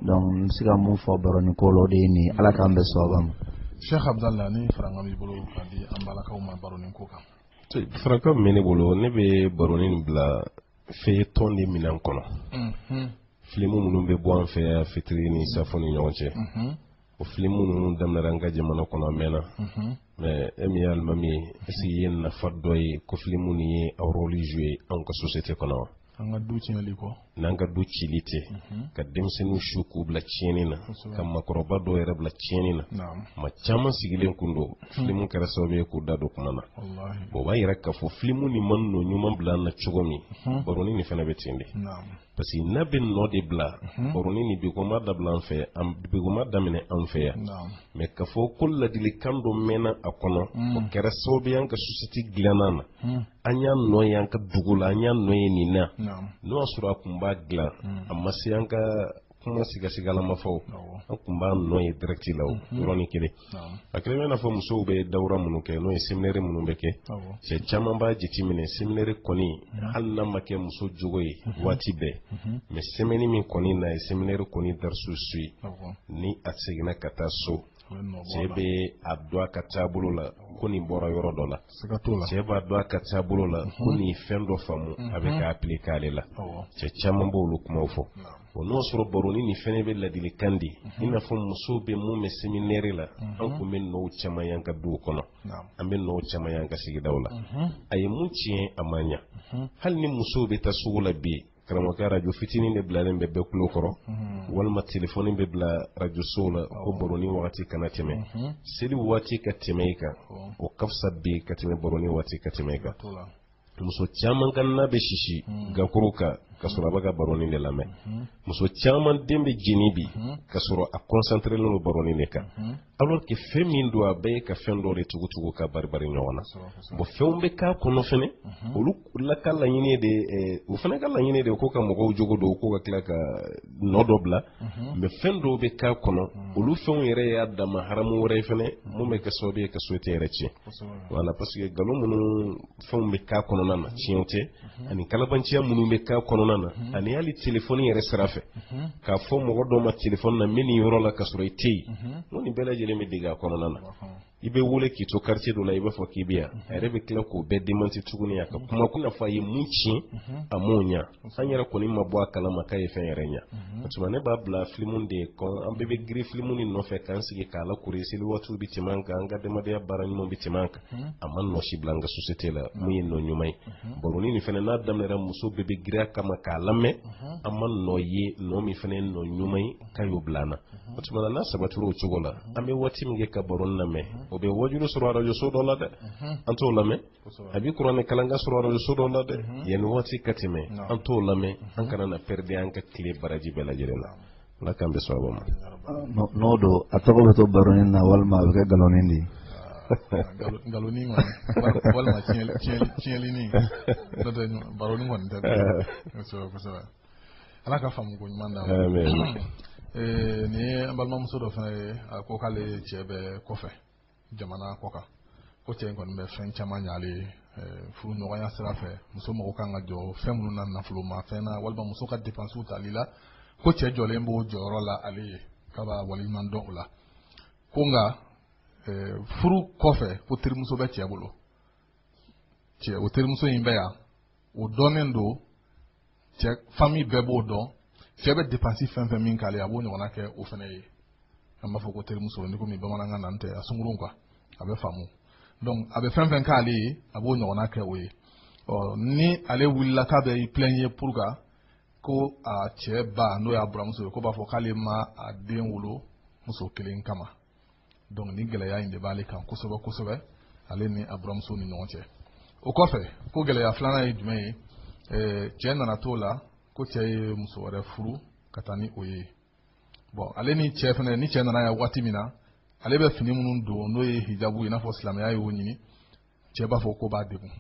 donc n bɛ se ka mun fɔ baroni ko la o de ye nin ye ala k'an bɛɛ sababa ma. sheikh abdallah ni farankan b'i bolo k'a di an balakaw ma baroni ko kan. farankan min bɛ ne bolo ne bɛ baroni bila feuilleton de minɛn kɔnɔ filimu minnu bɛ bɔ an fɛ yan fitiri ni safo ni ɲɔgɔn cɛ o filimu ninnu daminɛra an ka jamana kɔnɔ a mɛnna mais e min ye alimami ye est-ce que i ye nafa dɔ ye ko filimu nin ye a rôle jouer an ka société kɔnɔ n'an ka du cili tɛ ka denmisɛnninw su k'u bila tiɲɛni na ka makɔrɔba dɔw yɛrɛ bila tiɲɛni na maa caman sigilen kun don filimu kɛra sababu ye k'u da don kuma na o b'a yira k'a fɔ filimu nin ma nɔ ɲuman bila an na cogo min baroni nin fana bɛ ten de parce que n'a bɛ nɔ de bila baroni nin bi ko ma dabila an fɛ yan bi ko ma daminɛ an fɛ yan mais k'a fɔ ko ladilikan dɔ mɛnna a kɔnɔ o kɛra sababu y'an ka société dilanni na an y'a nɔ ye an ka dugu la an y'a nɔ ye nin na n'o y'a sɔrɔ a tun b'a dilan a ma se an ka kuma sigasigalama fɔ an tun b'a nɔ ye direct la o mhm. yɔrɔnin kelen a kɛlen bɛ i n'a fɔ musow bɛ dawura minnu kɛ n'o ye seminɛri minnu bɛ kɛ cɛ caman b'a jateminɛ seminɛri kɔni mhm. hali n'a ma kɛ muso jogo ye mhm. waati bɛɛ mais semɛni min kɔni n'a ye seminɛri kɔni darisu suivi ni a seginna ka taa so cɛ bɛ a dɔn a ka taabolo la ko nin bɔra yɔrɔ dɔ la cɛ b'a dɔn a ka taabolo la ko nin fɛn dɔ faamu a bɛ k'a appliquer ale la cɛ caman b'olu kumaw fɔ o n'o sɔrɔ baroni nin fɛnɛ bɛ ladilikan di i n'a fɔ musow bɛ mun mɛn seminɛri la an kun bɛ nɔw caman y'an ka duw kɔnɔ an bɛ nɔw caman y'an ka sigidaw la a ye mun tiɲɛ a ma ɲa hali ni musow bɛ taa sugu la bi karamɔgɔkɛ arajo fitinin de bilalen bɛ bɛɛ kulo kɔrɔ mhm. walima telefɔni bɛ bila arajosow la ko baroni wagati kana tɛmɛ mhm. seli waati ka tɛmɛ i kan o ka fisa bi ka tɛmɛ baroni waati ka tɛmɛ i kan muso caman ka na bɛ sisi mhm. gakuru kan ka sɔrɔ a bɛ ka baroni de lamɛn muso caman den bɛ jeni bi ka sɔrɔ a kɔnsanterelen don baroni de kan alors que fɛn min don a bɛɛ ye ka fɛn dɔ de tugutugu ka baribari ɲɔgɔn na bon fɛnw bɛ k'a kɔnɔ fɛnɛ mhm. olu la ka laɲini de eh, o fɛnɛ ka laɲini de ko ka mɔgɔw jogo don ko ka tila ka nɔ dɔ bila mhm. mais fɛn dɔw bɛ k'a kɔnɔ mhm. olu fɛnw yɛrɛ y'a dama haramu wɛrɛ ye fɛnɛ mun bɛ kɛ sababu ye ka société yɛrɛ tiɲɛ voilà parce que nkalon minnu fɛnw bɛ k'a kɔnɔna na tiɲɛw tɛ ani kalabanciya minnu bɛ k'a kɔnɔna na ani hali telefɔni yɛrɛ sira fɛ k'a fɔ mɔgɔ dɔw ma telefɔni na n bɛ nin yɔrɔ la ka sɔrɔ i tɛ yen n'o nin bɛɛ lajɛlen bɛ dege a kɔnɔna na i bɛ wele k'i to quartier dɔ la i b'a fɔ k'i bɛ yan a yɛrɛ bɛ tila k'o bɛɛ demanti tuguni a ka kuma ko n'a fɔ a ye mun tiɲɛ a m'o ɲa an yɛrɛ kɔni ma bɔ a kalama k'a ye fɛn yɛrɛ ɲa o tuma ne b'a bila filimu de ye kɔn an bɛɛ bɛ girin filimu nin nɔfɛ k'an sigi k'a lakori seli waatiw bɛ tɛmɛ an kan an ka adamadenya baara ɲuman bɛ tɛmɛ an kan a ma nɔ si bila an ka société la min ye nɔ ɲuman ye baroni nin fana n'a daminɛra muso bɛɛ bɛ girin a kama k'a lamɛn an ma nɔ ye nɔ min fana ye nɔ ɲuman ye k'a y'o bila an na o tuma na n'a sabatira o cogo la an bɛ waati min kɛ ka baroni lamɛn o bɛ wajulu sɔrɔ arajoso dɔ la dɛ an t'o lamɛn a bɛ kuranɛ kalankan sɔrɔ arajoso dɔ la dɛ yanni waati ka tɛmɛ an t'o lamɛn an kana na pɛrɛdi an ka tile baraji bɛɛ lajɛlen na ala k'an bɛ sababu ma n'o don a tɔgɔ bɛ to baroni na walima a bɛ kɛ nkalonnin de ye nkalonnin kɔni walima tiɲɛlinin n'o tɛ baroni kɔni tɛ kosɛbɛ kosɛbɛ ala ka faamu ko ɲuman d'an ma nin ye an balimamuso dɔ fana ye a ko k'ale cɛ bɛ kɔfɛ jamana kɔkan ko cɛ in kɔni bɛ fɛn caman ɲa ale ye furuɲɔgɔnya sira fɛ muso mɔgɔ kan ka jɔ fɛn minnu na nafolomafɛn na walima muso ka depansiw tali la ko cɛ jɔlen b'o jɔyɔrɔ la ale ye k'a b'a waleɲuman dɔn o la ko nka furu kɔfɛ ko terimuso bɛ cɛ bolo cɛ o terimuso in bɛ yan o dɔnnen don cɛ fami bɛɛ b'o dɔn cɛ bɛ depansi fɛn fɛn min k'ale a b'o ɲɔgɔnna kɛ o fana ye an b'a fɔ ko terimuso ni komi bamanankan na tɛ a sungurun quoi a bɛ faamu donc a bɛ fɛn fɛn k'ale ye a b'o ɲɔgɔnna kɛ o ye ɔ ni ale wulila k'a bɛ i plɛnye pour ka ko a cɛ ba n'o y'a buramuso ye k'o b'a fɔ k'ale ma a den wolo muso kelen kama donc ni gɛlɛya in de b'ale kan kosɛbɛ kosɛbɛ ale ni a buramuso ni ɲɔgɔn cɛ o kɔfɛ ko gɛlɛya filanan ye jumɛn ye eh, cɛɛ nana t'o la ko cɛɛ ye muso wɛrɛ furu ka taa ni o ye bon ale ni cɛɛ fɛnɛ ni cɛɛ nana yan waati min na ale bɛ fini minnu don n'o ye hijabu i n'a fɔ silamɛya y'o ɲini cɛɛ b'a fɔ k'o b'a degun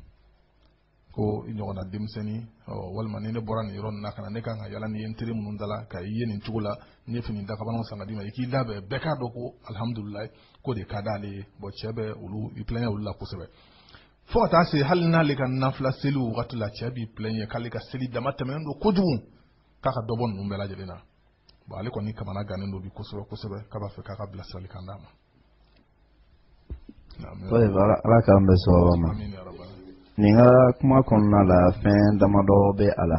ko i ɲɔgɔnna denmisɛnnin walima ni ne bɔra nin yɔrɔ na ka na ne kan ka yala n'i ye n teri minnu dala ka i ye nin cogo la n ye fini dakabanaw san ka d'i ma i k'i labɛn bɛɛ k'a dɔn ko alihamudulilayi k'o de ka d'ale ye bon cɛ bɛ olu i plɛɲɛ olu la kosɛbɛ fo ka taa se hali n'ale ka nafila seli wagati la cɛ b'i plɛɲɛ k'ale ka seli damatɛmɛnen don kojugu k'a ka dɔ bɔ ninnu bɛɛ lajɛlen na bon ale kɔni kamanagannen don bi kosɛbɛ kosɛbɛ k'a b'a fɛ k'a ka bilasiralikan d'a ma ala k'an bɛn sawaba ma nin ka kuma kɔnɔna la fɛn damadɔ bɛ a la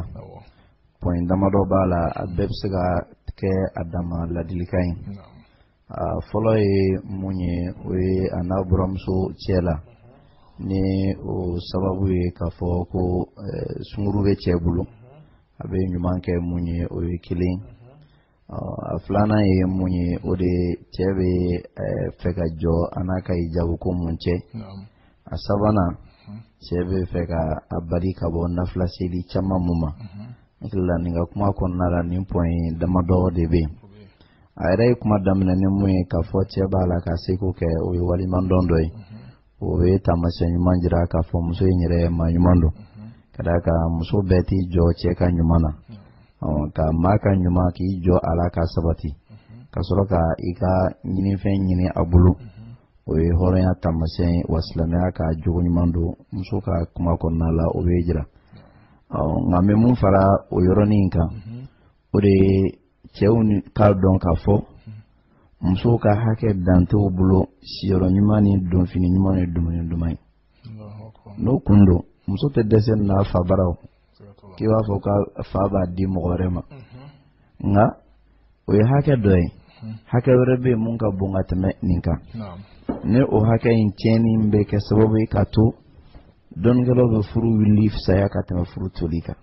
point damadɔ b'a la a bɛɛ bɛ se ka kɛ a dama ladilikan ye a fɔlɔ ye mun ye o ye a n'a buramuso cɛ la ni o sababu ye k'a fɔ ko sunguru bɛ cɛ bolo a bɛ ɲuman kɛ mun ye o ye kelen a filanan ye mun ye o de cɛ bɛ fɛ ka jɔ a n'a ka hijabu ko mun cɛ a sabanan cɛ bɛ fɛ ka a bali ka bɔ nafila seli caman mun ma n hakili la nin ka kuma kɔnɔna la nin point damadɔ de bɛ yen a yɛrɛ ye kuma daminɛ ni mun ye k'a fɔ cɛ b'a la k'a seko kɛ o ye waleɲumandɔn dɔ ye o bɛ taamasiyɛn ɲuman jira k'a fɔ muso in yɛrɛ maa ɲuman don ka d'a kan muso bɛɛ t'i jɔ cɛ ka ɲuman na ka maa ka ɲuman k'i jɔ a la ka sabati ka sɔrɔ ka i ka ɲinifɛn ɲini a bolo o ye hɔrɔnya taamasiyɛn ye wa silamɛya ka jogo ɲuman don muso ka kuma kɔnɔna la o bɛ jira nka n bɛ mun fara o yɔrɔnin kan o de ye cɛw k'a dɔn k'a fɔ musow ka hakɛ dan t'u bolo siyɔrɔ ɲuman ni donfini ɲuman ni dumuni duman ye n'o kun don muso tɛ dɛsɛ n'a fa bara k'i b'a fɔ ko fa b'a di mɔgɔ wɛrɛ ma nka o ye hakɛ dɔ ye hakɛ wɛrɛ bɛ yen mun ka bon ka tɛmɛ nin kan ni o hakɛ in tiɲɛni bɛ kɛ sababu ye ka to dɔnnikɛlaw bɛ furu wuli fisaya ka tɛmɛ furu toli kan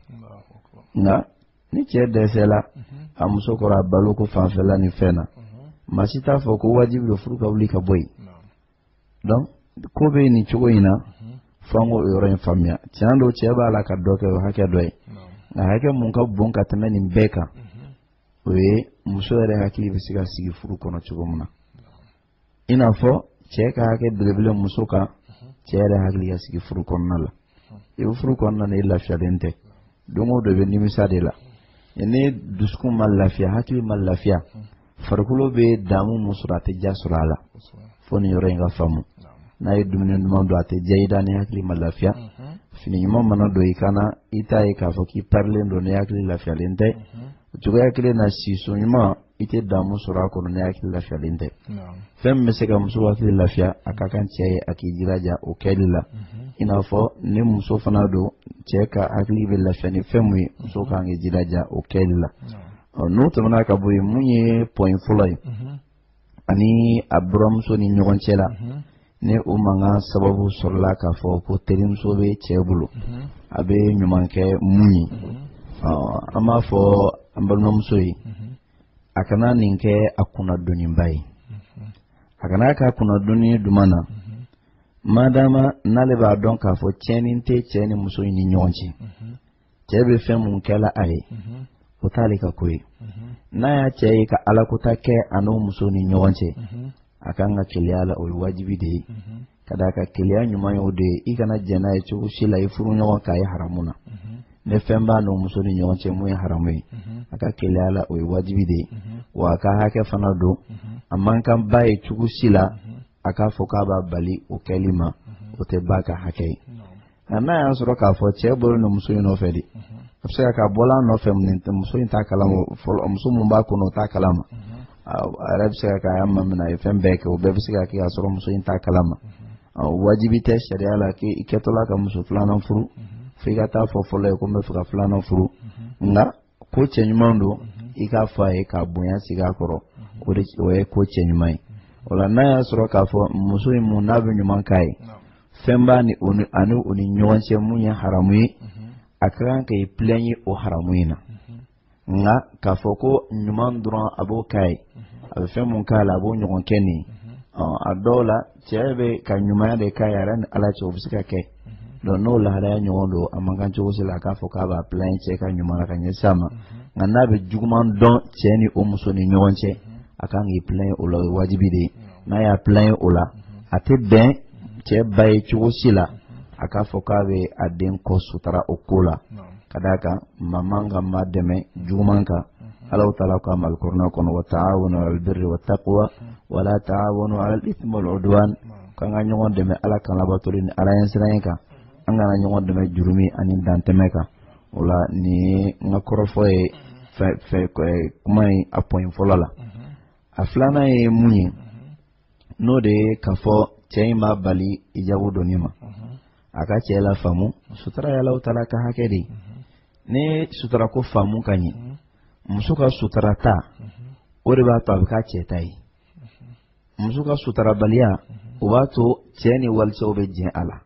nka ni cɛ dɛsɛla a muso kɔrɔ a baloko fanfɛla ni fɛn na maa si t'a fɔ ko wajibi don furu ka wuli ka bɔ yen donc ko bɛ nin cogo in na fo an k'o yɔrɔ in faamuya tiɲɛ don cɛ b'a la ka dɔ kɛ o hakɛ dɔ ye nka hakɛ mun ka bon ka tɛmɛ nin bɛɛ kan o ye muso yɛrɛ hakili bɛ se ka sigi furu kɔnɔ cogo min na i n'a fɔ cɛ ka hakɛ belebele muso kan cɛ yɛrɛ hakili ka sigi furu kɔnɔna la i bɛ furu kɔnɔna na i lafiyalen tɛ don o don i bɛ nimisa de la ni dusukun ma lafiya hakili ma lafiya farikolo bɛ damu mun sɔrɔ a tɛ diya sɔrɔ a la fo nin yɔrɔ in ka faamu n'a ye dumuni duman don a tɛ diya i da ni hakili ma lafiya fini ɲuman mana don i kan na i t'a ye k'a fɔ k'i parilen don ni hakili lafiyalen tɛ o cogoya kelen na siso ɲuman i tɛ damu sɔrɔ a kɔnɔ ni hakili lafiyalen tɛ fɛn min bɛ se ka muso hakili lafiya a ka kan cɛ ye a k'i jilaja o kɛli la mhm. i n'a fɔ ni muso fana don cɛ ka hakili bɛ lafiya ni fɛn min ye muso mhm. ka kan k'i jilaja o kɛli la n'o tɛmɛna ka bɔ yen mun ye point fɔlɔ ye mhm. ani a buranmuso ni ɲɔgɔn cɛ la ni o mankan sababu sɔrɔla k'a fɔ ko terimuso bɛ cɛ bolo a bɛ ɲuman kɛ mun ye an b'a fɔ an balimamuso ye a kana nin kɛ a kun na doniba ye a kana k'a kun na doni duman na madama n'ale b'a dɔn k'a fɔ tiɲɛni tɛ cɛ ni muso in ni ɲɔgɔn cɛ cɛ bɛ fɛn mun kɛla a ye o t'ale ka ko ye n'a y'a cɛ ye ka alakota kɛ a n'o muso ni ɲɔgɔn cɛ a kan ka keleya la o ye wajibi de ye ka d'a kan keleya ɲuman ye o de ye i kana jɛn n'a ye cogo si la i furuɲɔgɔn ka ye haramu na ni fɛn b'a n'o muso ni ɲɔgɔn cɛ mun ye haramu ye a ka keleya la o ye wajibi de ye wa a ka hakɛ fana don a man kan ba ye cogo si la a k'a fɔ k'a b'a bali o kɛli ma o tɛ ba ka hakɛ ye nka n'a y'a sɔrɔ k'a fɔ cɛ bɔlen muso in nɔfɛ de a bɛ se ka k'a bɔla a nɔfɛ muso in t'a kalama fɔlɔ muso min b'a kɔnɔ o t'a kalama a yɛrɛ bɛ se ka k'a y'a mamina a ye fɛn bɛɛ kɛ o bɛɛ bɛ se ka kɛ k'a sɔrɔ muso in t'a kalama wajibi tɛ sariya la k'i kɛtɔla ka muso filanan furu f'i ka taa fɔ fɔlɔ ye ko n bɛ fɛ ka filanan furu nka ko cɛɲuman don i k'a fɔ a ye k'a bonya sigi a kɔrɔ o ye ko cɛɲuman ye o la n'a y'a sɔrɔ k'a fɔ muso in mun n'a bɛ ɲuman k'a ye fɛn b'a ni ani o ni ɲɔgɔn cɛ mun ye haramu ye a ka kan k'i plaint o haramu in na nka k'a fɔ ko ɲuman dɔrɔn a b'o k'a ye a bɛ fɛn mun k'a la a b'o ɲɔgɔn kɛ nin ye a dɔw la Cɛ bɛ ka ɲumanya de k'a yɛrɛ ni ala cɛ o bɛ se ka kɛ donc n'o lahalaya ɲɔgɔn don a man kan cogo si la a k'a fɔ k'a b'a plaint cɛ ka ɲuman ka ɲɛsin a ma nka n'a bɛ juguman dɔn cɛ ni o muso ni ɲɔgɔn cɛ a kan k'i plaint o la o ye wajibi de ye n'a y'a plaint o la a tɛ bɛn cɛ ba ye cogo si la a k'a fɔ k'a bɛ a den kɔ sutura o ko la ka d'a kan maa man kan maa dɛmɛ juguman kan allahu taala ko alkurana kɔnɔ wa ta'awanu alal birri wat taqwa wa la ta'awanu alal ismi wal udwan ko an ka ɲɔgɔn dɛmɛ ala kan labatoli ni ala ɲɛsiranɲɛ kan an kana ɲɔgɔn dɛmɛ jurumu ani dantɛmɛ kan o la nin n ka kɔrɔfɔ ye kuma in a point fɔlɔ la a filanan ye mun ye n'o de ye k'a fɔ cɛ in b'a bali ijabu donni ma a ka cɛ lafaamu sutura ye allahu taala ka hakɛ de ni sutura ko faamu ka ɲɛ muso ka sutura ta o de b'a to a bɛ k'a cɛ ta ye muso ka sutarabaliya o b'a to cɛ ni walicɛw bɛ jɛn a la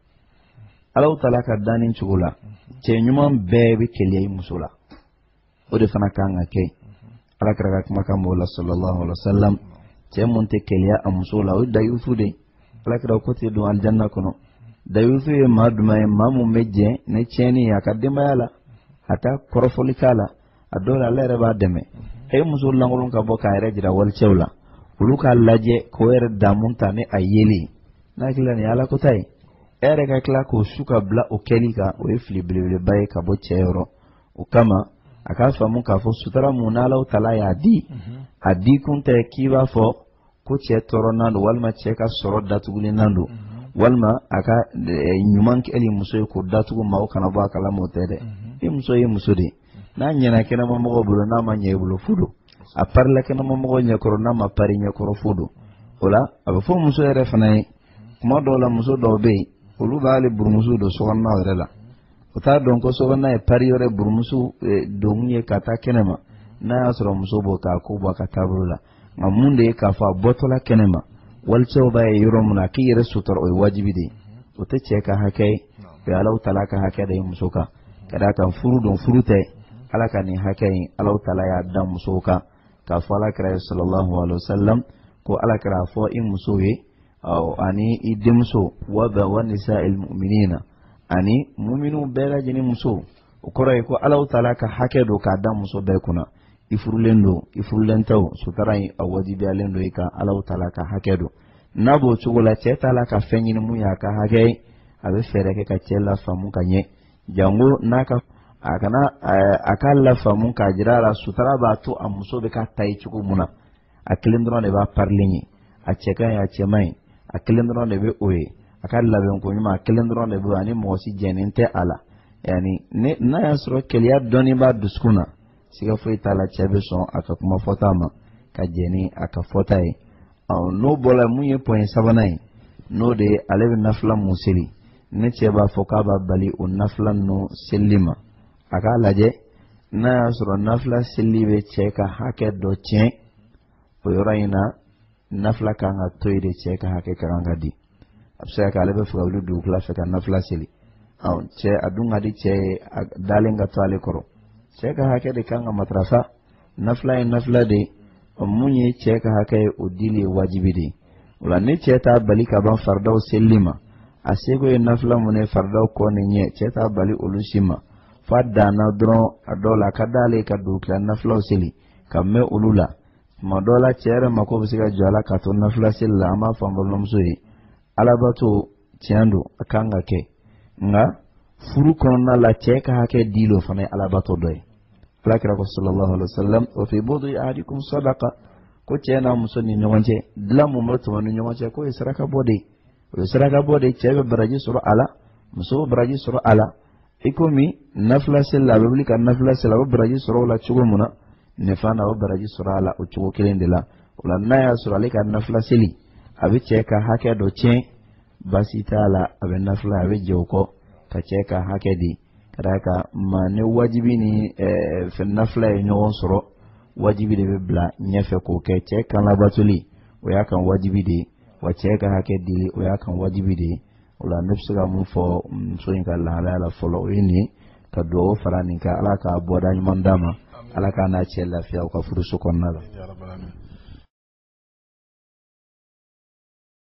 allahu taala ka danni cogo la cɛ ɲuman bɛɛ bɛ keleya i muso la o de fana kan ka kɛ ala kira ka kumakan b'o la sallallahu alaihi wa sallam cɛ mun tɛ keleya a muso la o ye dayusu de ye ala kira ko tɛ don alijanna kɔnɔ dayusu ye maa jumɛn ye maa mun bɛ jɛn ni tiɲɛni ye a ka denbaya la a tɛ kɔrɔfɔli k'a la a dɔw la ale yɛrɛ b'a dɛmɛ e ye muso lankolon ka bɔ k'a yɛrɛ jira walicɛw la olu k'a lajɛ k'o yɛrɛ damu ta ni a yeli ye n'a hakili la nin ye ala kɔnta ye e yɛrɛ ka tila k'o su ka bila o kɛli kan o ye fili belebeleba ye ka bɔ cɛ yɔrɔ o kama a k'a faamu k'a fɔ sutura mun n'allahu taala y'a di a di kun tɛ k'i b'a fɔ ko cɛ tɔɔrɔnan don walima cɛ ka sɔrɔ datugulinan don walima a ka eh, ɲuman kɛli muso ye k'o datugu maaw kana bɔ a kalama o tɛ dɛ i muso ye muso de ye n'a ɲɛna kɛnɛmamɔgɔ bolo n'a ma ɲɛ i bolo fu don a parila kɛnɛmamɔgɔ ɲɛkɔrɔ n'a ma pari i ɲɛkɔrɔ fu don o la a bɛ fɔ muso yɛrɛ fana ye kuma dɔw la muso dɔw bɛ yen olu b'ali burumusu don sokɔnɔna yɛrɛ la u t'a dɔn ko sokɔnɔna ye pari yɔrɔ ye burumusu eh, donkun ye ka taa kɛnɛ ma n'a y'a sɔrɔ muso b'o k'a k'o bɔ a ka taabolo la nka mun de ye k'a fɔ a bɔtɔla kɛnɛ ma walicɛw b'a ye yɔrɔ min na k'i yɛrɛ sutura o ye wajibi de ye o tɛ cɛ ka hakɛ ye o ye allahu taala ka hakɛ de ye muso kan ka d'a kan furu don furu tɛ ala ka nin hakɛ in allahu taala y'a da musow kan k'a fɔ ala kira ye sallallahu alaihi wa sallam ko ala kira a fɔ i musow ye ɔ ani i denmusow wa nisail muminina ani muminu bɛɛ lajɛlen muso o kɔrɔ ye ko allahu taala ka hakɛ don k'a da muso bɛɛ kunna i furulen don i furulen tɛ o sutara in a wajibiyalen don i kan allahu taala ka hakɛ don n'a b'o cogo la cɛ t'a la ka fɛn ɲini mun y'a ka hakɛ ye a bɛ fɛɛrɛ kɛ ka cɛ lafaamu ka ɲɛ jango n'a ka a kana a k'a lafaamu k'a jira a la sutara b'a to a muso bɛ k'a ta ye cogo mun na a kelen dɔrɔn de b'a parilen ye a cɛ ka ɲi a cɛ man ɲi a kelen dɔrɔn de bɛ o ye a ka labɛnko ɲuman a kelen dɔrɔn de bɛ ani mɔgɔ si jɛnnen tɛ a la yani n'a y'a sɔrɔ keleya dɔɔnin b'a dusukun na siga foyi t'a la cɛ bɛ sɔn a ka kuma fɔta ma ka jɛn ni a ka fɔta ye n'o bɔra mun ye point sabanan ye n'o de ye ale bɛ nafila mun seli ni cɛ b'a fɔ k'a b'a bali o nafila ninnu selili ma a k'a lajɛ n'a y'a sɔrɔ nafila seli bɛ cɛ ka hakɛ dɔ tiɲɛ o yɔrɔ in na nafila kan ka to yen de cɛ ka hakɛ ka kan ka di a bɛ se ka kɛ ale bɛ fɛ ka wuli dugukila fɛ ka nafila seli cɛ a dun ka di cɛ ye a dalen ka to ale kɔrɔ cɛ ka hakɛ de kan ka matarafa nafila ye nafila de ye o mun ye cɛ ka hakɛ ye o dili ye wajibi de ye o la ni cɛ t'a bali ka ban faridaw selili ma a seko ye nafila mun ye faridaw kɔ ni ɲɛ cɛ t'a bali olu si ma f'a danna dɔrɔn a dɔw la a ka d'ale ka dugutila nafilaw seli ka mɛn olu la tuma dɔw la cɛ yɛrɛ mako bɛ se ka jɔ a la ka to nafila seli la an b'a fɔ an balimamuso ye alabato tiɲɛ don a kan ka kɛ nka furu kɔnɔna la cɛ ka hakɛ dili o fana ye alabato dɔ ye ala kira ko sallallahu alaihi wasallam wa fi budi ahadikum sadaqa ko cɛ n'a muso ni ɲɔgɔn cɛ dilan mun bɛ tɛmɛ u ni ɲɔgɔn cɛ k'o ye saraka bɔ de ye o ye saraka bɔ de ye cɛ bɛ baraji sɔrɔ a la muso bɛ baraji sɔrɔ a la i komi nafila seli la a bɛ wuli ka nafila seli a bɛ baraji sɔrɔ o la cogo min na nin fana a bɛ baraji sɔrɔ a la o cogo kelen de la o la n'a y'a sɔrɔ ale ka nafila seli a bɛ cɛ ka hakɛ dɔ tiɲɛ baasi t'a la a bɛ nafila a bɛ jɛn o kɔ ka cɛ ka hakɛ di ka d'a kan maa ni wajibi ni eh, fɛn nafila ye ɲɔgɔn sɔrɔ wajibi de bɛ bila ɲɛfɛ k'o kɛ cɛ kan labatoli o y'a kan wajibi de ye wa cɛ ka hakɛ dili o y'a kan wajibi de ye o la ne bɛ se ka mun fɔ muso in ka lahalaya la fɔlɔ o ye nin ye ka dugawu fara nin kan ala k'a bɔda ɲuman d'a ma ala k'a n'a cɛ lafiya u ka furuso kɔnɔna la